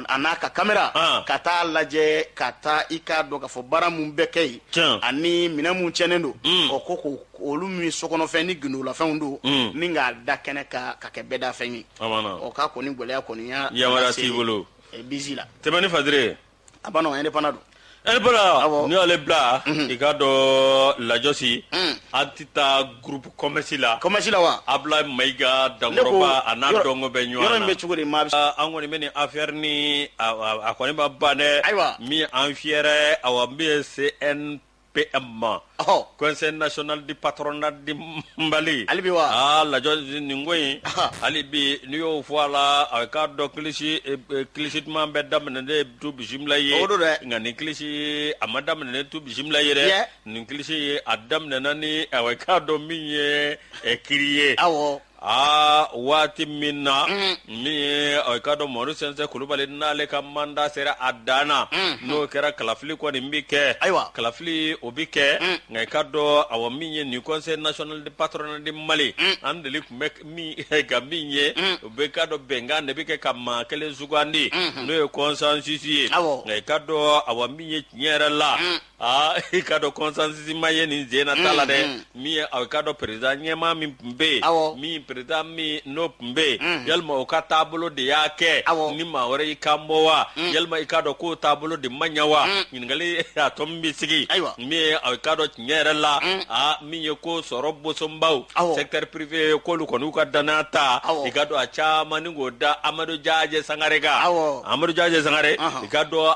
a n'a ka kamera ka taa lajɛ ka taa i k'a dɔn k'a fɔ baara minnu bɛ kɛ yen ani minɛn minnu tiɲɛnen don o ko ko olu min ye sokɔnɔfɛn ni gindolafɛnw don mm. ni k'a da kɛnɛ kan ka kɛ bɛɛdafɛn ye ɔ k'a kɔni gɛlɛya ko ni a yamaruya t'i bolo eh, bizi la tɛmɛni fadire a b'a dɔn ko indépendant don indépendant n'i y'ale bila mhm. i k'a dɔn lajɔsi mm. an tɛ taa groupe commerce la commerce la wa abla mayiga dankɔrɔba a n'a dɔgɔ bɛ ɲɔgɔn na yɔrɔ in bɛ cogo di maa ah, an kɔni bɛ nin affaire ni a kɔni ma ban dɛ ayiwa min an fiyɛrɛ awa min ye cnp PM ɔhɔ conseil national du patronat du Mali hali bi wa aa lajɔ nin ko in Aha. hali bi n'i y'o fɔ a la a k'a dɔn kilisi eh, eh, kilisi duman bɛ daminɛ ni tu bisimila ye O don dɛ. nka nin kilisi a ma daminɛ ni tu bisimila ye dɛ Yɛ. nin kilisi a daminɛna ni awɔ i k'a dɔn min ye eh, kiri ye awɔ aa waati min na min ye ɔ, i k'a dɔn mamadu sɛnsɛn kulubali n'ale ka manda sera a dan na n'o kɛra kalafili kɔni bɛ kɛ Ayiwa. kalafili o bɛ kɛ nka i k'a dɔn awɔ min ye nin conseil national du patronat du mali an deli tun bɛ min ka min ye u bɛ k'a dɔn bɛnkan de bɛ kɛ ka maa kelen sugandi n'o ye consensus ye Awɔ. nka i k'a dɔn awɔ min ye tiɲɛ yɛrɛ la aa i ka dɔn consensus ma ye nin sen na ta la dɛ min ye aw ka dɔn président ɲɛmaa min tun bɛ yen min président min n'o tun bɛ yen yalima o ka taabolo de y'a kɛ ni maa wɛrɛ y'i kan bɔ wa yalima i k'a dɔn k'o taabolo de ma ɲɛ wa ɲininkali a tɔ min bɛ sigi min ye aw ka dɔn tiɲɛ yɛrɛ la aa min ye ko sɔrɔ bosonbaw secteur privé k'olu kɔni u ka danaya ta i ka dɔn a caman ni k'o da amadu jajɛ sangare kan amadu jajɛ sangare i ka dɔn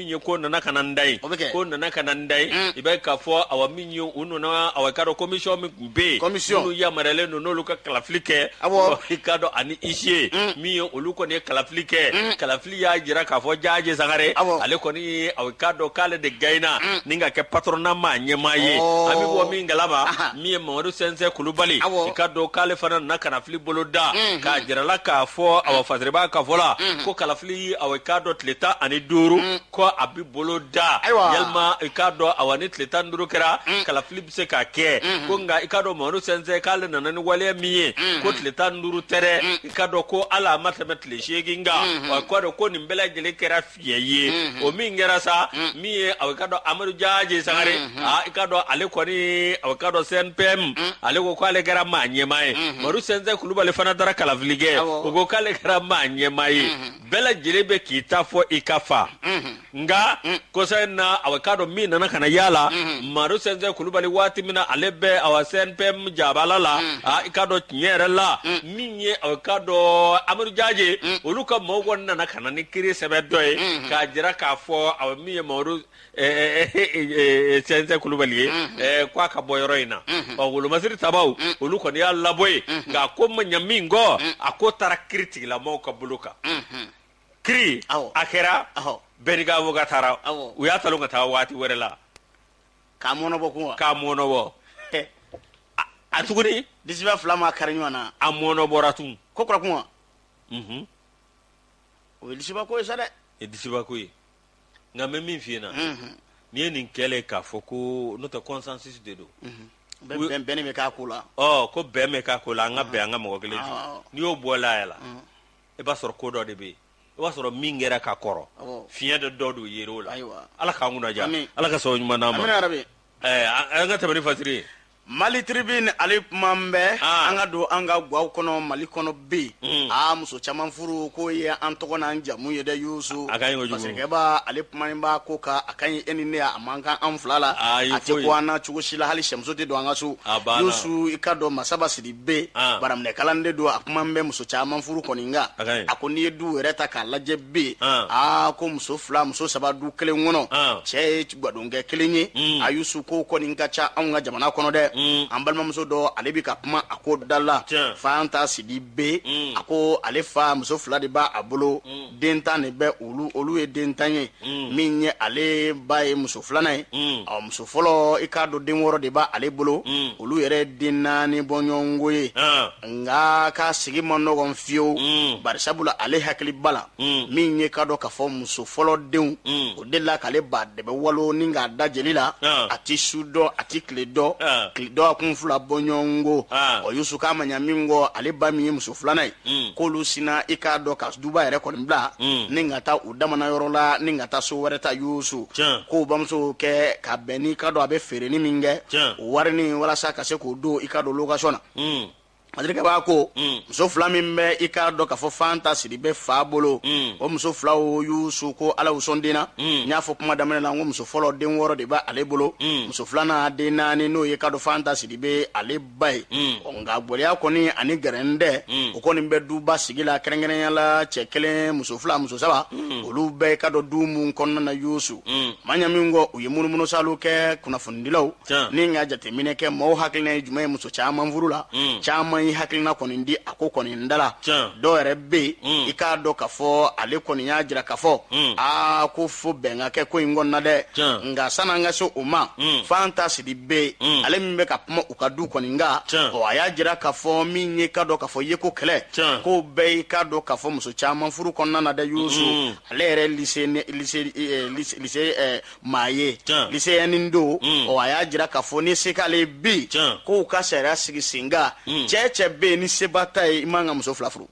min ye ko nana ka na n da ye ko nana ka na n da ye mm. i bɛ k'a fɔ awa min ye u nana awa i k'a dɔn komisiyɔn min tun bɛ yen minnu yamaruyalen don n'olu ka kalafili kɛ i k'a dɔn ani isiye mm. min ye olu kɔni ye kalafili kɛ mm. kalafili y'a jira k'a fɔ jaje sangare ale kɔni ye awa i k'a dɔn k'ale de gaɲena ni ka kɛ patɔrɔna maa ɲɛmaa ye oh. an bɛ bɔ min kalama min ye mamadu sɛnsɛn kulubali i k'a dɔn k'ale fana nana kalafili boloda k'a jirala k'a fɔ awa fasiri b'a ka fɔ la ko kalafili k'a dɔn tile tan ani duuru ko a bɛ boloda yalima i k'a dɔn awa ni tile tan duuru kɛra kalafili bɛ se ka kɛ ko nka i k'a dɔn mamadu sɛnsɛn k'ale nana ni waleya min ye ko tile tan duuru tɛ dɛ i k'a dɔn ko hali a ma tɛmɛ tile seegin kan k'a dɔn ko nin bɛɛ lajɛlen kɛra fiɲɛ ye o min kɛra sa min ye awa i k'a dɔn amadu jaje sangare i k'a dɔn ale kɔni k'a dɔn CNPM ale ko k'ale kɛra maa ɲɛmaa ye mamadu sɛnsɛn kulubali fana taara kalafili kɛ o ko k'ale kɛra maa ɲɛmaa ye bɛɛ lajɛlen bɛ k'i ta fɔ i ka fa nka kɔsa in na awa i k'a dɔn min nana ka na yala la mamadu sɛnsɛn kulubali waati min na ale bɛ awa CNPM jabala la i k'a dɔn tiɲɛ yɛrɛ la min ye awa i k'a dɔn amadu jaje olu ka mɔgɔw nana ka na ni kiiri sɛbɛn dɔ ye k'a jira k'a fɔ awa min ye sɛnsɛn kulubali ye ko a ka bɔ yɔrɔ in na ɔ wolomasiri tabaw olu kɔni y'a labɔ yen nka a ko ma ɲa min kɔ a ko taara kiiritigɛla maaw ka bolo kan kiiri a kɛra bɛɛ n'i ka awoka taara u y'a talon ka taa waati wɛrɛ la k'a mɔnɔbɔ k'a mɔnɔbɔ a tuguni disiba fila ma kari ɲɔgɔn na a mɔnɔbɔra tun ko kura kuma o ye disiba ko ye sa dɛ disiba ko ye nka n bɛ min f'i ɲɛna n'i ye nin kɛlen k'a fɔ ko n'o tɛ kɔnsansisi de don la ko bɛn bɛ k'a ko la an ka bɛn an ka mɔgɔ kelen n'i y'o bɔ la la i b'a sɔrɔ ko dɔ de bɛ yen i b'a sɔrɔ min kɛra ka kɔrɔ fiɲɛ dɔ dɔ don yɛrɛ o la ala k'an kunnaja ala ka sɔn ɲuman d'an ma an ka tɛmɛ ni fasiri ye Mali tribini ale kuma bɛ an ka don an ka gwa kɔnɔ mali kɔnɔ bɛ aa muso caman furu k'o ye an tɔgɔ n'an jamu ye dɛ yusu pasikɛ b'a ale kuma in b'a ko ka a ka e ni ne a man kan an fila la a tɛ ko an na cogo si la hali sɛmuso tɛ don an ka so yusu i ka dɔn masaba sidibe baraminɛ kalanden don a kuma bɛ muso caman furu ko in kan a ko n'i ye du yɛrɛ ta k'a lajɛ b'a ye aa ko muso fila muso saba du kelen kɔnɔ cɛ ye gadonkɛ kelen ye mm. a yusu ko kɔni ka ca anw ka jamana kɔnɔ dɛ mm. an balimamuso dɔ ale bɛ ka kuma a ko da la fanta sidibe mm. a ko ale fa muso fila de b'a a bolo den tan de bɛ olu olu ye den tan ye min ye ale ba ye muso filanan ye ɔ muso fɔlɔ i k'a dɔn den wɔɔrɔ de b'a ale bolo olu yɛrɛ den naani bɔɲɔgɔnko ye ah. nka k'a sigi man nɔgɔn fiyewu bari sabula ale hakiliba la min ye k'a dɔn k'a fɔ muso fɔlɔ denw de la k'ale ba dɛbɛ walo ni k'a da jeli la ah. a tɛ su dɔn a tɛ tile dɔn ah. tile dɔn a kun fila bɔɲɔgɔn ko ah. ɔ yusu k'a ma ɲa min kɔ ale ba min ye muso filanan ye hmm. k'olu sinna i k'a dɔn ka duba yɛrɛ kɔni bila hmm. ni ka taa u damana yɔrɔ la ni ka taa so wɛrɛ ta yusu k'o bamuso kɛ ka bɛn n'i k'a dɔn a bɛ feereni min kɛ o warini walasa ka se k'o don i k'a dɔn lokasɔn na hmm. malikɛ b'a ko mm. muso fila min bɛ i k'a dɔn k'a fɔ fanta sidibɛ fa bolo mm. o muso filaw yusu ko ala u sɔn den na mm. n y'a fɔ kuma daminɛ na n ko muso fɔlɔ den wɔɔrɔ de bɛ ale bolo muso filanan den naani n'o ye k'a dɔn fanta sidibɛ ale ba ye nka gɛlɛya kɔni ani gɛrɛndɛ o kɔni bɛ duba sigi la kɛrɛnkɛrɛnya la cɛ kelen muso fila muso saba olu bɛ i k'a dɔn du minnu kɔnɔna na yusu ma ɲa min kɔ u ye munumunusaaliw kɛ kunnafonidilaw ni ka jateminɛ kɛ mɔgɔw hakilina ye jumɛn ye muso caman furu la mm. caman y'i hakilina kɔni di a ko kɔni n dala dɔw yɛrɛ bɛ yen mm. i k'a dɔn ka fɔ ale kɔni y'a jira ka fɔ mm. aa ko fo bɛn ka kɛ ko in kɔnɔna dɛ nka sani an ka se o ma fanta sidibɛ ale min bɛ ka kuma u ka du kɔni nka ɔ a y'a jira ka fɔ min ye k'a dɔn ka fɔ ye ko kɛlɛ ko bɛɛ y'i k'a dɔn ka fɔ muso caman furu kɔnɔna na dɛ yusu ale yɛrɛ lise lise lise maa ye liseyɛnin don mm. ɔ a y'a jira k'a fɔ ni se k'ale ye bi k'u ka sariya sigi sen kan mm. cɛɛ cɛ bɛ yen ni seba t'a ye i man ka muso fila furu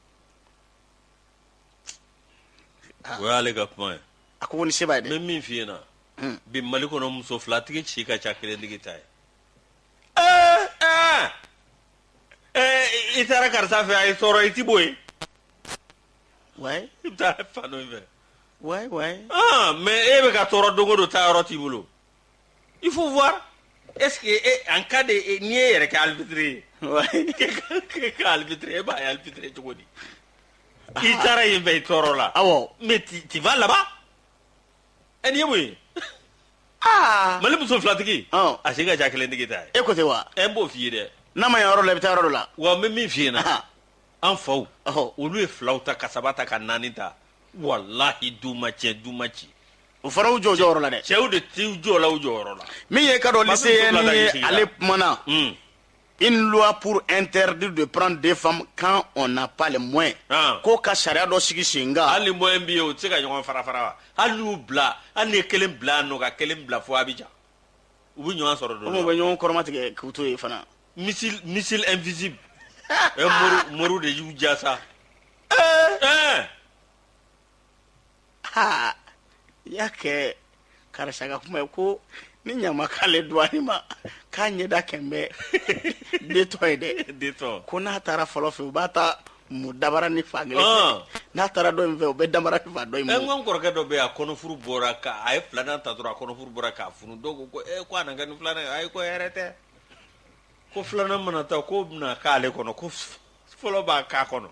ah. o y'ale ka kuma ye a ko ko ni se b'a ye dɛ n bɛ min f'i ɲɛna hmm. bi mali kɔnɔ muso filatigi si ka ca kelentigi ta ye eh, eh. Eh, i taara karisa fɛ a y'i tɔɔrɔ i ti bɔ yen wayi i bɛ taa fan dɔ in fɛ wayi wayi ah mais e bɛ ka tɔɔrɔ don o don taa yɔrɔ t'i bolo il faut voir est ce que e en cas de e- n'i y'i yɛrɛ kɛ alibitiri ye wayi k'e ka- k'e ka alibitiri e b'a ye alibitiri ye cogo di i taara yen bɛɛ i tɔɔrɔ la awɔ mais tu tu vas là-bas ɛ nin ye mun ye aa mali muso filatigi Ɔn. a si ka ca kelentigi ta ye e ko ten wa ɛ n b'o f'i ye dɛ n'a ma ɲɛ yɔrɔ la i bɛ taa yɔrɔ dɔ la wa n bɛ min f'i ɲɛna Aha. an faw olu ye filaw ta ka saba ta ka naani ta walahi du ma cɛn du ma ci o fana u jɔ u jɔyɔrɔ la dɛ cɛw de t'u jɔ la u jɔyɔrɔ la min ye k'a dɔn liseyɛnin ye ale kumana hmm. une loi pour interdire de prendre des femmes quand on n'a pas les moyens ah. ko ka sariya dɔ sigi sen kan hali moyen b'i ye o tɛ se ka ɲɔgɔn fara fara wa hali n'u bila hali n'i ye kelen bila yan ni ka kelen bila fo Abidjan u bɛ ɲɔgɔn sɔrɔ dɔ la u bɛ ɲɔgɔn kɔrɔmatigɛ k'u to yen fana missile missile invisible ɛ moriw moriw de y'u ja sa ɛɛ ha i y'a kɛ karisa ka kuma ye ko ni ɲama k'ale duwani ma k'a ɲɛda kɛnbɛ detɔ ye dɛ detɔ ko n'a taara fɔlɔ fɛ u b'a ta mu dabaranin fan kelen fɛ Ɔn. n'a taara dɔ in fɛ u bɛ dabaranin fan dɔ in ɛ n mu ko n kɔrɔkɛ dɔ bɛ yen a kɔnɔfuru bɔra ka a ye filanan ta dɔrɔn a kɔnɔfuru bɔra k'a funu dɔw ko ko ee ko a na kɛ ni filanan ye ayi ko hɛrɛ tɛ ko filanan mana taa k'o bɛna k'ale kɔnɔ ko fɔlɔ b'a k'a kɔnɔ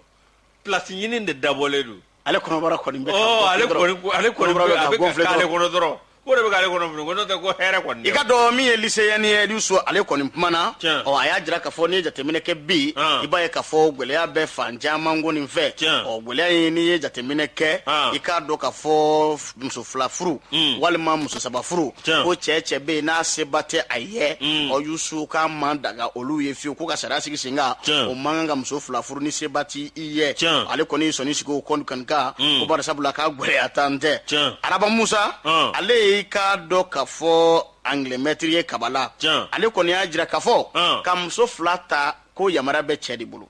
place ɲini de dabɔlen don ale kɔnɔbara kɔni bɛ oh, ale kɔni ale kɔni bɛ a bɛ ka k'ale kɔnɔ dɔrɔn o de bɛ k'ale kɔnɔ funu ko n'o tɛ ko hɛrɛ kɔni i k'a dɔn min ye lycéen ye Yusu ale kɔni kumana ɔ a y'a jira k'a fɔ n'i ye jateminɛ kɛ bi ah. i b'a ye k'a fɔ gɛlɛya bɛ fan caman kɔni fɛ ɔ gɛlɛya in n'i ye jateminɛ kɛ ah. i k'a dɔn k'a fɔ muso fila furu mm. walima muso saba furu ko cɛɛ cɛ be n'a seba tɛ a yɛ mm. ɔ Yusu k'a ma daga olu ye fiyewu ko ka sariya sigi sen kan o man kan ka muso fila furu ni seba ti i yɛ ale kɔni sɔnni sigi o kɔni kan mm. ko barisabula k'a gwɛlɛya dan tɛ Araba Musa ale y'i k'a dɔn k'a fɔ angilɛmɛtiri ye Kabala ale kɔni y'a jira k'a fɔ ka muso fila ta ko yamariya bɛ cɛɛ de bolo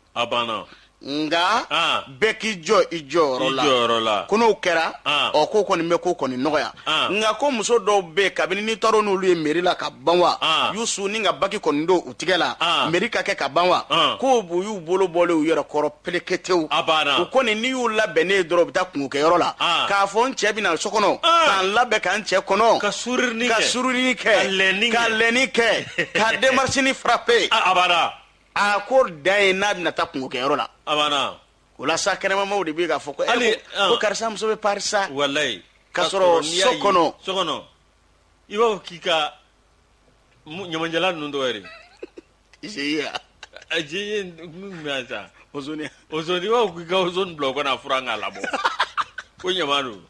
nka bɛɛ k'i jɔ i jɔyɔrɔ la ko n'o kɛra ɔ ko kɔni bɛ ko kɔni nɔgɔya nka ko muso dɔw bɛ kabini ni tɔɔrɔ n'olu ye mairie la ka ban wa Yusu ni ka bague kɔni don u tigɛ la mairie ka kɛ ka ban wa ko u y'u bolo bɔlen u yɛrɛ kɔrɔ peleketew u kɔni n'i y'u labɛnnen ye dɔrɔn u bɛ taa kunkokɛyɔrɔ la k'a fɔ n cɛ bɛna so kɔnɔ k'an labɛn k'an cɛ kɔnɔ ka surunin kɛ ka lɛnni kɛ ka démarchenin frapper a ko dan ye n'a bɛna taa kunko kɛyɔrɔ la a banna o la sa kɛnɛmamaw de bɛ k'a fɔ ko eh, Hali, ko- ah. ko karisa muso bɛ pari sa walayi K'a sɔrɔ n'i y'a so ye- kɔnɔ. so kɔnɔ i b'a fɔ k'i ka mu- ɲamancɛla ninnu tɔgɔ yɛrɛ GIE a GIE min tun bɛ yan sa Ozone Ozone i b'a fɔ k'i ka Ozone bila o ka na a furan k'a labɔ ko ɲaman don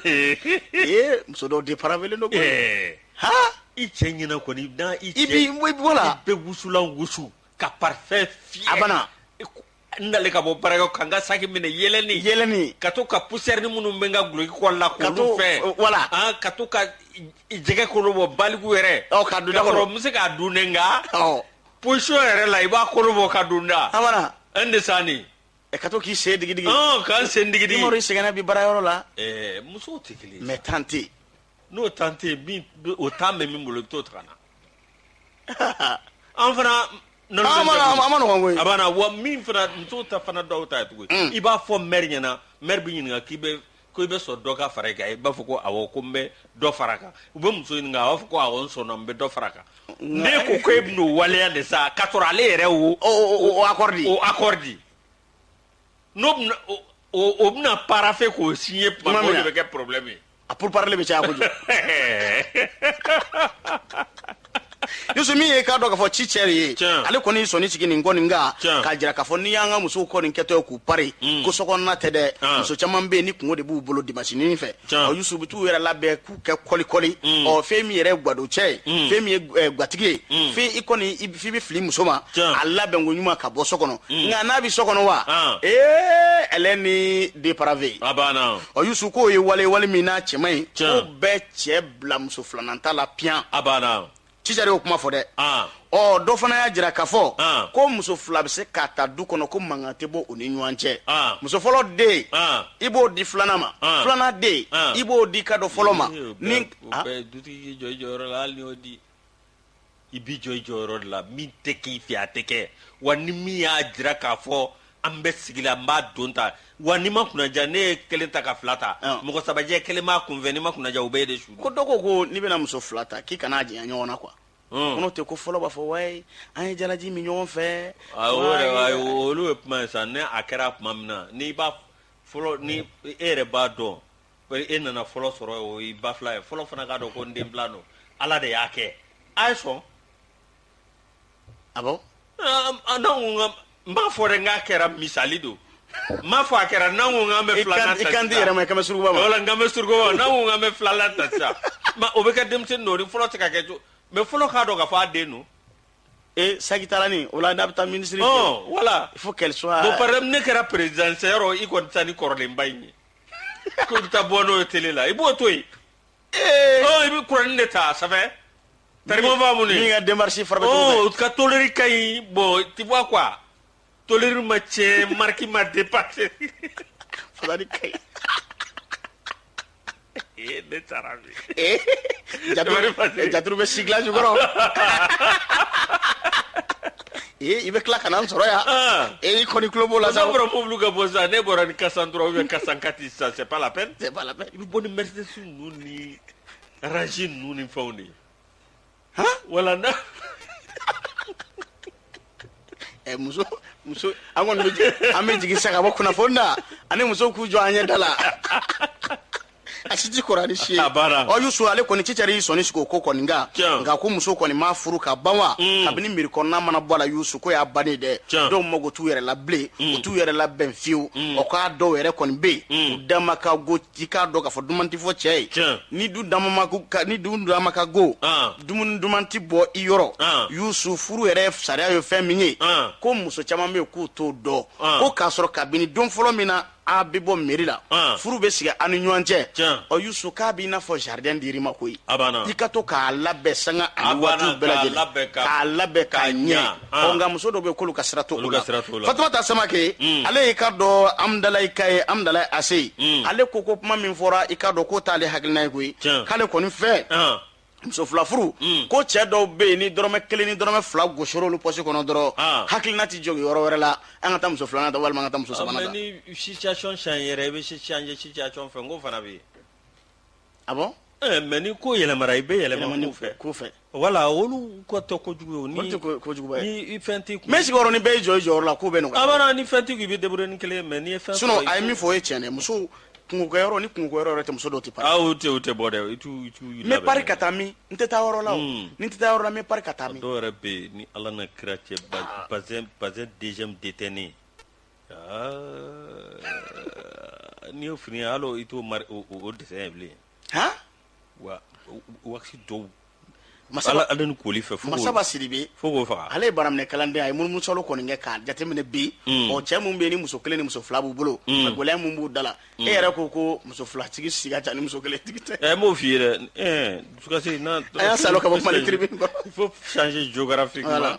ee muso dɔw dépravélen don ɛɛ ha i cɛ ɲɛna kɔni n'a i cɛ i bi i bɔ la i bɛ wusulan wusu ka parfum fiyɛ a banna n nalen ka bɔ baara kɛ ka n ka saki minɛ yɛlɛni yɛlɛni ka to ka poussière ni minnu bɛ n ka duloki kɔ la k'olu fiyɛ wala an ka to ka jɛgɛ kolo bɔ baliku yɛrɛ ɔ ka don da kɔrɔ n bɛ se k'a dun dɛ nka poisson yɛrɛ la i b'a kolo bɔ ka don n da a banna n de sa nin ɛ ka to k'i sen digidigi ɔn ka n sen digidigi Umaru i sɛgɛnna bi baarayɔrɔ la ɛɛ musow tɛ kelen ye mais temps tɛ yen n'o temps tɛ yen min o temps bɛ min bolo i bɛ t'o ta ka na an fana nɔnɔ An ma- an ma- a man nɔgɔn koyi. a banna wa min fana musow ta fana dɔw ta ye tugu ye i b'a fɔ mɛri ɲɛna mɛri bɛ ɲininka k'i bɛ Ko i bɛ sɔn dɔ ka fara i kan i b'a fɔ ko awɔ ko n bɛ dɔ fara a kan u bɛ muso ɲininka a b'a fɔ ko awɔ n sɔnna n bɛ dɔ fara a kan n'e ko ko e bɛn'o waleya de sa k'a sɔrɔ ale yɛrɛ y'o o accord di o accord di n'o bɛna o o o bɛna parapher k'o signer tuma min na o de bɛ kɛ problème ye a pourparlers bɛ caya kojugu yusu min ye k'a dɔn k'a fɔ cisɛri ye ale kɔni y'i sɔnni sigi nin kɔni nka k'a jira k'a fɔ n'i y'an ka musow kɔni kɛtɔ ye k'u pari mm. ko sokɔnɔna tɛ dɛ ah. muso caman bɛ yen ni kunko de b'u bolo dimasinin fɛ ɔ yusu u bɛ t'u yɛrɛ labɛn k'u kɛ kɔlikɔli mm. ɔ fɛn min yɛrɛ ye gwadon cɛ ye mm. fɛn min ye eh, gatigi ye fɛn i kɔni f'i bɛ fili muso ma a labɛn ko ɲuman ka bɔ so kɔnɔ nka n'a bɛ so kɔnɔ wa ah. ee eh, elle est une dépravée ɔ yusu k'o ye wale wale min n'a cɛ man ɲi k'o bɛ cɛ bila muso filanan ta la piyan a banna cisɛri y'o kuma fɔ dɛ ah. ɔ dɔ fana y'a jira k'a fɔ ah. ko muso fila bɛ se ka ta du kɔnɔ ko mankan tɛ bɔ u ni ɲɔgɔn cɛ ah. muso fɔlɔ den i b'o di filanan ma filanan den i b'o di ka dɔ fɔlɔ ma ni dutigi jɔ i jɔyɔrɔ la hali n'i y'o di i b'i jɔ i jɔyɔrɔ de la min tɛ k'i fɛ a tɛ kɛ wa ni min y'a jira k'a fɔ an bɛ sigi la n b'a don ta wa n'i ma kunnaja n'e ye kelen ta ka fila ta Ɔn. mɔgɔ saba jɛ kelen b'a kunfɛ n'i ma kunnaja u bɛ i déçu ko dɔ ko ko n'i bɛna muso fila ta k'i kana u janya ɲɔgɔn na quoi Ɔn. ko n'o tɛ ko fɔlɔ b'a fɔ wayi an ye jalaji min ɲɔgɔn fɛ Ayi, o yɛrɛ wayi, ayi, olu ye kuma ye sa ni a kɛra tuma min na n'i b'a fɔlɔ ni e yɛrɛ b'a dɔn E nana fɔlɔ sɔrɔ o y'i ba filan ye fɔlɔ fana k'a dɔn ko n den filan don ala de y'a kɛ a ye sɔn a n b'a fɔ n k'a kɛra misali don n m'a fɔ a kɛra n' bɛ di yɛrɛ ma kɛmɛ suruba wala n bɛ surukuba n k'an bɛ filanan ta sa o bɛ kɛ denmisɛn don fɔlɔ tɛ ka kɛ to mais fɔlɔ k'a dɔn k'a fɔ a den don ee saki taara ni o la n'a bɛ taa minisiri voilà faut qu'elle ne kɛra président yɔrɔ i kɔni taa ni kɔrɔlenba in ye ko i bɛ taa bɔ n'o ye télé la i b'o to yen i bɛ kuranin de ta ça fait tarimo b'a mun min ka démarche fara o ka tôlerie ka ɲi bon tu vois quoi tôlerie ma tiɲɛ marque ma dépasser fadani ka ɲi ne taara Eh? Jaturu, Wari ma se. eh, jaturu bɛ sigilan jukɔrɔ ee i bɛ tila ka na n sɔrɔ yan Ah. ee i kɔni tulo b'o la sa N'a bɔra mobili ka bɔ sisan n'e bɔra ni quatre cent trois ou bien quatre cent quatre sisan c'est pas la peine C'est pas la peine. i bɛ bɔ ni Mercedes ninnu ni Range ninnu ni fɛnw de ye wala na ɛ muso muso an kɔni bɛ jigin an bɛ jigin sisan ka bɔ kunnafoni na ani muso k'u jɔ an ɲɛ da la a si ti kɔrɔ ani si ye A banna. ɔ yusu ale kɔni cicɛri y'i sɔnni sigi o ko kɔni kan Tiɲɛ. nka ko muso kɔni m'a furu ka ban wa Mm. kabini meri kɔnɔna mana bɔ a la yusu ko y'a bannen dɛ Tiɲɛ. dɔw mago t'u yɛrɛ la bilen u t'u yɛrɛ labɛn fiyewu ɔ k'a dɔw yɛrɛ kɔni bɛ yen u dama ka go k'i k'a dɔn k'a fɔ duman tɛ fɔ cɛ ye Tiɲɛ. ni du damama ko- ka- ni du dama ka go Ah. dumuni duman tɛ bɔ i yɔrɔ Ah. yusu furu yɛrɛ sariya ye fɛn min ye Ah. ko muso caman bɛ yen k'u t'o dɔn Ah. ko k'a sɔrɔ kabini don fɔlɔ min na a bɛ bɔ meri la Ah. furu bɛ sigi an ni ɲɔgɔn cɛ Tiɲɛ. ɔ yusu k'a b'i n'a fɔ jardin dir'i ma koyi A banna. i ka to k'a labɛn sanga A ani banna, waatiw bɛɛ k'a lajɛlen labɛn ka- k'a labɛn k'a k'a ɲɛ ɲa. Ah. nka muso dɔw bɛ k'olu ka sira t'o la fatumata samake hmm. ale y'i ka dɔn amudalayika ye amudalayi ACI hmm. ale ko ko kuma min fɔra i ka dɔn k'o t'ale hakilina ye koyi k'ale kɔni fɛ ah. muso fila furu hmm. ko cɛ dɔw bɛ yen ni dɔrɔmɛ kelen ni dɔrɔmɛ fila gosira olu pɔsi kɔnɔ dɔrɔn ah. hakilina tɛ jɔ yɔrɔ wɛrɛ la an ka taa muso filanan ta walima an ka taa muso sabanan ta. ni situation change yɛrɛ i bɛ changer situation fɛ n ko fana bɛ yen. a bon mais ni ko yɛlɛmara i bɛ yɛlɛma ko fɛ wala olu ko tɛ kojugu ni fɛn mais sigiyɔrɔ ni bɛɛ y'i jɔ i jɔyɔrɔ la ko bɛ nɔgɔya ni fɛn t'i kun i bɛ débrouiller ni kelen ye mais ni fɛn a ye min fɔ o ye cɛn muso kungokɛ ni kungo yɔrɔ tɛ muso dɔw tɛ tɛ tɛ bɔ dɛ n bɛ pari ka taa min n tɛ taa yɔrɔ la ni n tɛ taa yɔrɔ la n bɛ pari ka taa min dɔw yɛrɛ bɛ yen ni ala n'a kira cɛ bazin deuxième de tɛ ne N'i ye fini hali i t'o dessin ye bilen wa waati dɔw masa ala ni koli fɛ masaba sidibe fo k'o faga ale ye baraminɛ kalanden a ye munumunusaalo kɔni kɛ k'a jateminɛ bi o cɛ min bɛ ni muso kelen ni muso fila b'u bolo gɛlɛya min b'u da la e yɛrɛ ko ko muso filatigi si ka ca ni muso kelen tigi tɛ n m'o f'i ye dɛ dusukasi a y'a sa ka bɔ fo sansi jo fɛ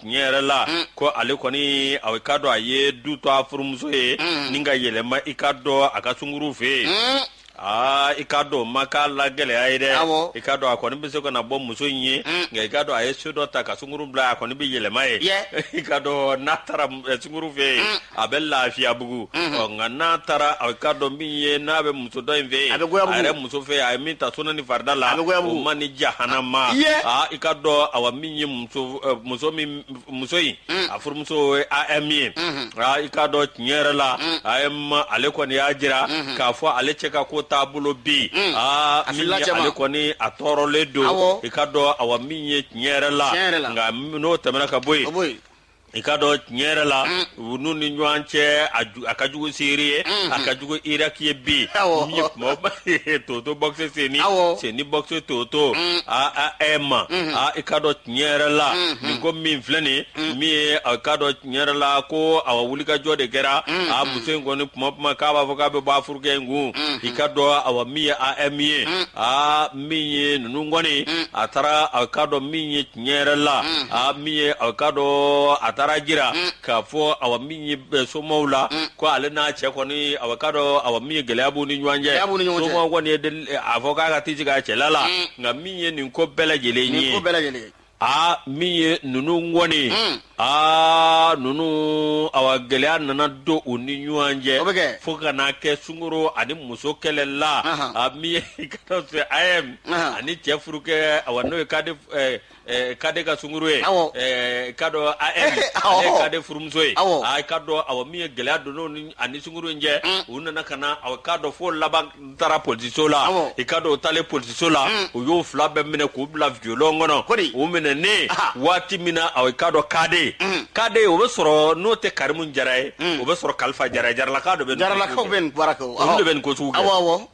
tiɲɛ yɛrɛ la mm. ko ale kɔni i k'a dɔn a ye du to a furumuso ye mm. ni ka yɛlɛma i ka dɔn a ka sunkuru fɛ yen mm. aa i k'a dɔn ma k'a la gɛlɛya ye dɛ i k'a dɔn a kɔni bɛ se ka na bɔ muso in ye nka i k'a dɔn a ye so dɔ ta ka sunkuru bila a kɔni bɛ yɛlɛma ye i k'a dɔn n'a taara sunkuru fɛ yen a bɛ lafiyabugu ɔ nka n'a taara i ka dɔn min ye n'a bɛ muso dɔ in fɛ yen a yɛrɛ muso fɛ a ye min ta sunna ni farida la o man ni jahanama aa i ka dɔn awa min ye muso muso in a furumuso AM ye i k'a dɔn tiɲɛ yɛrɛ la AM ale kɔni y'a jira k'a fɔ ale cɛ ka ko taabolo bɛ yen aa ale kɔni a tɔɔrɔlen don i ka dɔn awa min ye tiɲɛ yɛrɛ la nka n'o tɛmɛna ka bɔ yen i ka dɔn tiɲɛ yɛrɛ la u n'u ni ɲɔgɔn cɛ a ju- a ka jugu siri ye a ka jugu iraki ye bi Awɔ. min ye kuma ba ye toto bɔkise seni Awɔ. seni bɔkise toto a AM a i ka dɔn tiɲɛ yɛrɛ la nin ko min filɛ nin min ye a ka dɔn tiɲɛ yɛrɛ la ko awa wulikajɔ de kɛra a muso in kɔni kuma kuma k'a b'a fɔ k'a bɛ bɔ a furukɛ in kun i ka dɔn awa min ye AM ye a min ye ninnu kɔni a taara a ka dɔn min ye tiɲɛ yɛrɛ la mm. a min ye a ka dɔn a taara jira mm. k'a fɔ awa min ye eh, somaw la mm. ko ale n'a cɛ kɔni awa ka dɔn awa min ye gɛlɛya b'u ni ɲɔgɔn cɛ somaw kɔni ye eh, a fɔ k'a ka t'i sigi a cɛla la nka min ye nin ko bɛɛ lajɛlen ye aa min ye ninnu kɔni aa ninnu awa gɛlɛya nana don u ni ɲɔgɔn cɛ o bɛ kɛ fo ka n'a kɛ sunguru ani muso kɛlɛ la a min ye ka dɔn fɛ AM ani cɛ furukɛ awa n'o ye kade kade ka sunguru ye ka dɔn AM kade furumuso ye a ka dɔn awa min ye gɛlɛya don ani sunguru in cɛ u nana ka na aw ka dɔn fo laban n taara polisiso la i ka dɔn o taalen polisiso la mm. u y'o fila bɛɛ minɛ k'u bila violon kɔnɔ u minɛnen waati min na i ka dɔn kade mm. kade o bɛ sɔrɔ n'o tɛ karimu jara ye mm. o bɛ sɔrɔ kalifa jara ye jaralaka dɔ bɛ jaralakaw bɛ nin baara kɛ olu de bɛ nin ko sugu kɛ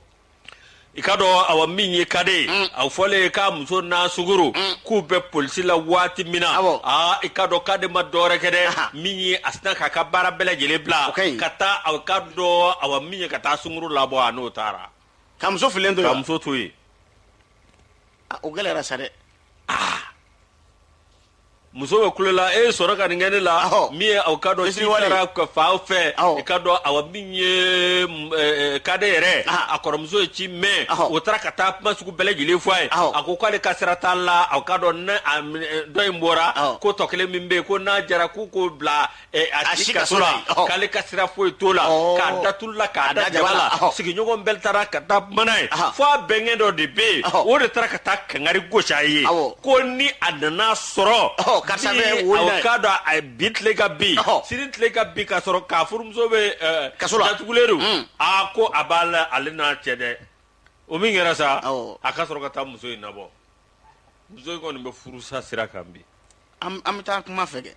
i ka dɔn awa min ye kade mm. a fɔlen k'a muso n'a sunguru mm. k'u bɛ polisi la waati min na aa i ka dɔn kade ma dɔwɛrɛ kɛ dɛ min ye a sina k'a ka baara bɛɛ lajɛlen bila ka taa aw ka dɔn awa min ye ka taa sunguru labɔ a n'o taara ka muso filen to ka muso to yen ah, o gɛlɛyara sa dɛ ah. muso bɛ kule la e sɔnna ka nin kɛ ne la min ye aw ka dɔn i taara ka faw fɛ i ka dɔn awa min ye eh, eh, kade yɛrɛ ah. a kɔrɔmuso ye ci mɛn o taara ka taa kuma sugu bɛɛ lajɛlen fɔ a ye a ko k'ale ka sira t'a la aw ka dɔn ne eh, dɔ in bɔra ko tɔ kelen min bɛ yen ko n'a jara k'u k'o bila Eh, a si kaso la ɔhɔ. k'ale ka sira foyi t'o la Ɔɔ. k'a da tulu la k'a da jaba la ɔhɔ. sigiɲɔgɔn bɛɛ taara ka taa kuma n'a ye Aha. fo a bɛnkɛ dɔ de bɛ yen Ɔhɔ. o de taara ka taa kangari gosi a ye Awɔ. ko ni a nana sɔrɔ Ɔhɔ, karisa ni bɛ wo in na awɔ, ye. k'a dɔn a ye bi tile ka bin Ɔhɔ. sini tile ka bin k'a sɔrɔ k'a furumuso bɛ eh, Kaso la. datugulen don Mm. a ko a b'a la ale n'a cɛ dɛ o min kɛra sa Awɔ. a ka sɔrɔ ka taa muso in nabɔ muso in kɔni bɛ furusa sira kan bi an bɛ taa kuma fɛ kɛ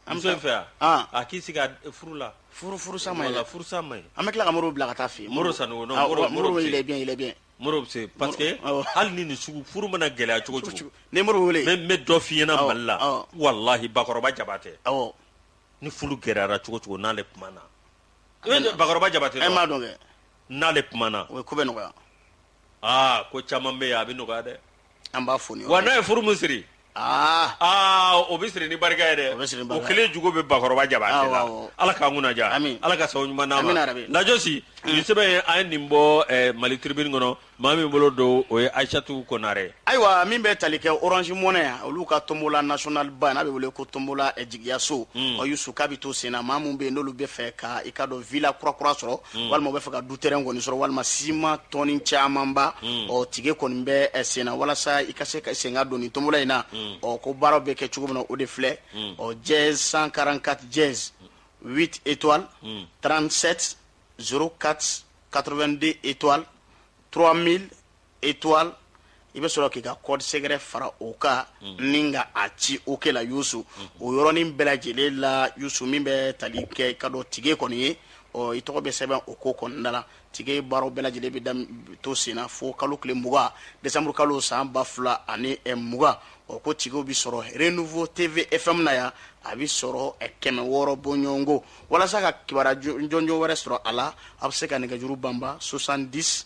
AM fɛ yan a k'i sigi furu la furusa furusa man ɲi an bɛ tila ka mori bila ka taa fɛ mori sanogo mori il est bien mori c'est parce que hali ni nin sugu furu mana gɛlɛya cogo cogo ni mori wele n bɛ dɔ f'i ɲɛna mali la walahi bakɔrɔba jabatɛ aw ni furu gɛlɛyara cogo cogo n'ale kumana bakɔrɔba jabatɛ b'a dɔn n'ale kumana o ko bɛ nɔgɔya aa ko caman bɛ yan a bɛ nɔgɔya dɛ an b'a fɔ ni wa n'a ye furu min siri aa aa o bɛ siri ni barika ye dɛ O bɛ siri ni barika ye. kelen jugu bɛ bakɔrɔba jaba Awɔ, sen na awɔ. ala k'an kunna diya Amin. ala ka sababu ɲuman d'an Amin, ma yarabi. Lajosi nin sɛbɛn ye an ye nin bɔ eh, mali tribune kɔnɔ maa min bolo don o ye aisatu konare ayiwa min bɛ tali kɛ orange money olu ka tombola national ba n'a bɛ wele ko tombola eh, jigiyaso ɔ yusu k'a bɛ to sen na maa min bɛ yen n'olu bɛ fɛ ka i ka dɔn villa kurakura sɔrɔ mm. walima u bɛ fɛ ka du terrain kɔni sɔrɔ walima ciment tɔni camanba mm. ɔ tige kɔni bɛ eh, senna walasa i ka se ka sen ka don nin tombola in na mm. ɔ ko baaraw bɛ kɛ cogo min na o de filɛ ɔ dièse 144 dièse 8 étoiles 37 04 82 étoiles 3000 étoile i bɛ sɔrɔ k'i ka code secret fara o kan ni ka a ci o kɛ la yusu o yɔrɔnin bɛɛ lajɛlen la yusu min bɛ tali kɛ ka dɔn tige kɔni ye ɔ i tɔgɔ bɛ sɛbɛn o ko kɔnɔna la tige baaraw bɛɛ lajɛlen bɛ to senna fo kalo tile mugan desanburu kalo san ba fila ani mugan ɔ ko tigew bɛ sɔrɔ Renouveau TV FM na yan a bɛ sɔrɔ kɛmɛ wɔɔrɔ bɔɲɔgɔnko walasa ka kibaruya jɔnjɔn wɛrɛ sɔrɔ a la a bɛ se ka nɛgɛjuru banba soixante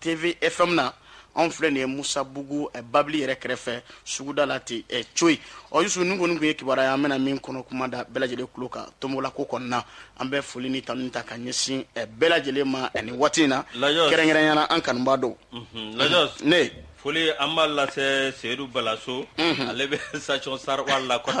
TV FM na anw filɛ nin ye Misabugu eh, Babili yɛrɛ kɛrɛfɛ suguda la ten eh, coyi ɔ Yusu ninnu kɔni tun ye kibaruya ye an bɛna min kɔnɔ kuma da bɛɛ lajɛlen tulo kan tombola ko kɔnɔna an bɛ foli ni tanuni ta ka ɲɛsin eh, bɛɛ lajɛlen ma eh, nin waati in na Lajos. kɛrɛnkɛrɛnyana an kanubaa dɔw Mhm, Lajos, ne foli an b'a lase Seyidu Balaso ale bɛ station Sarwari la kɔni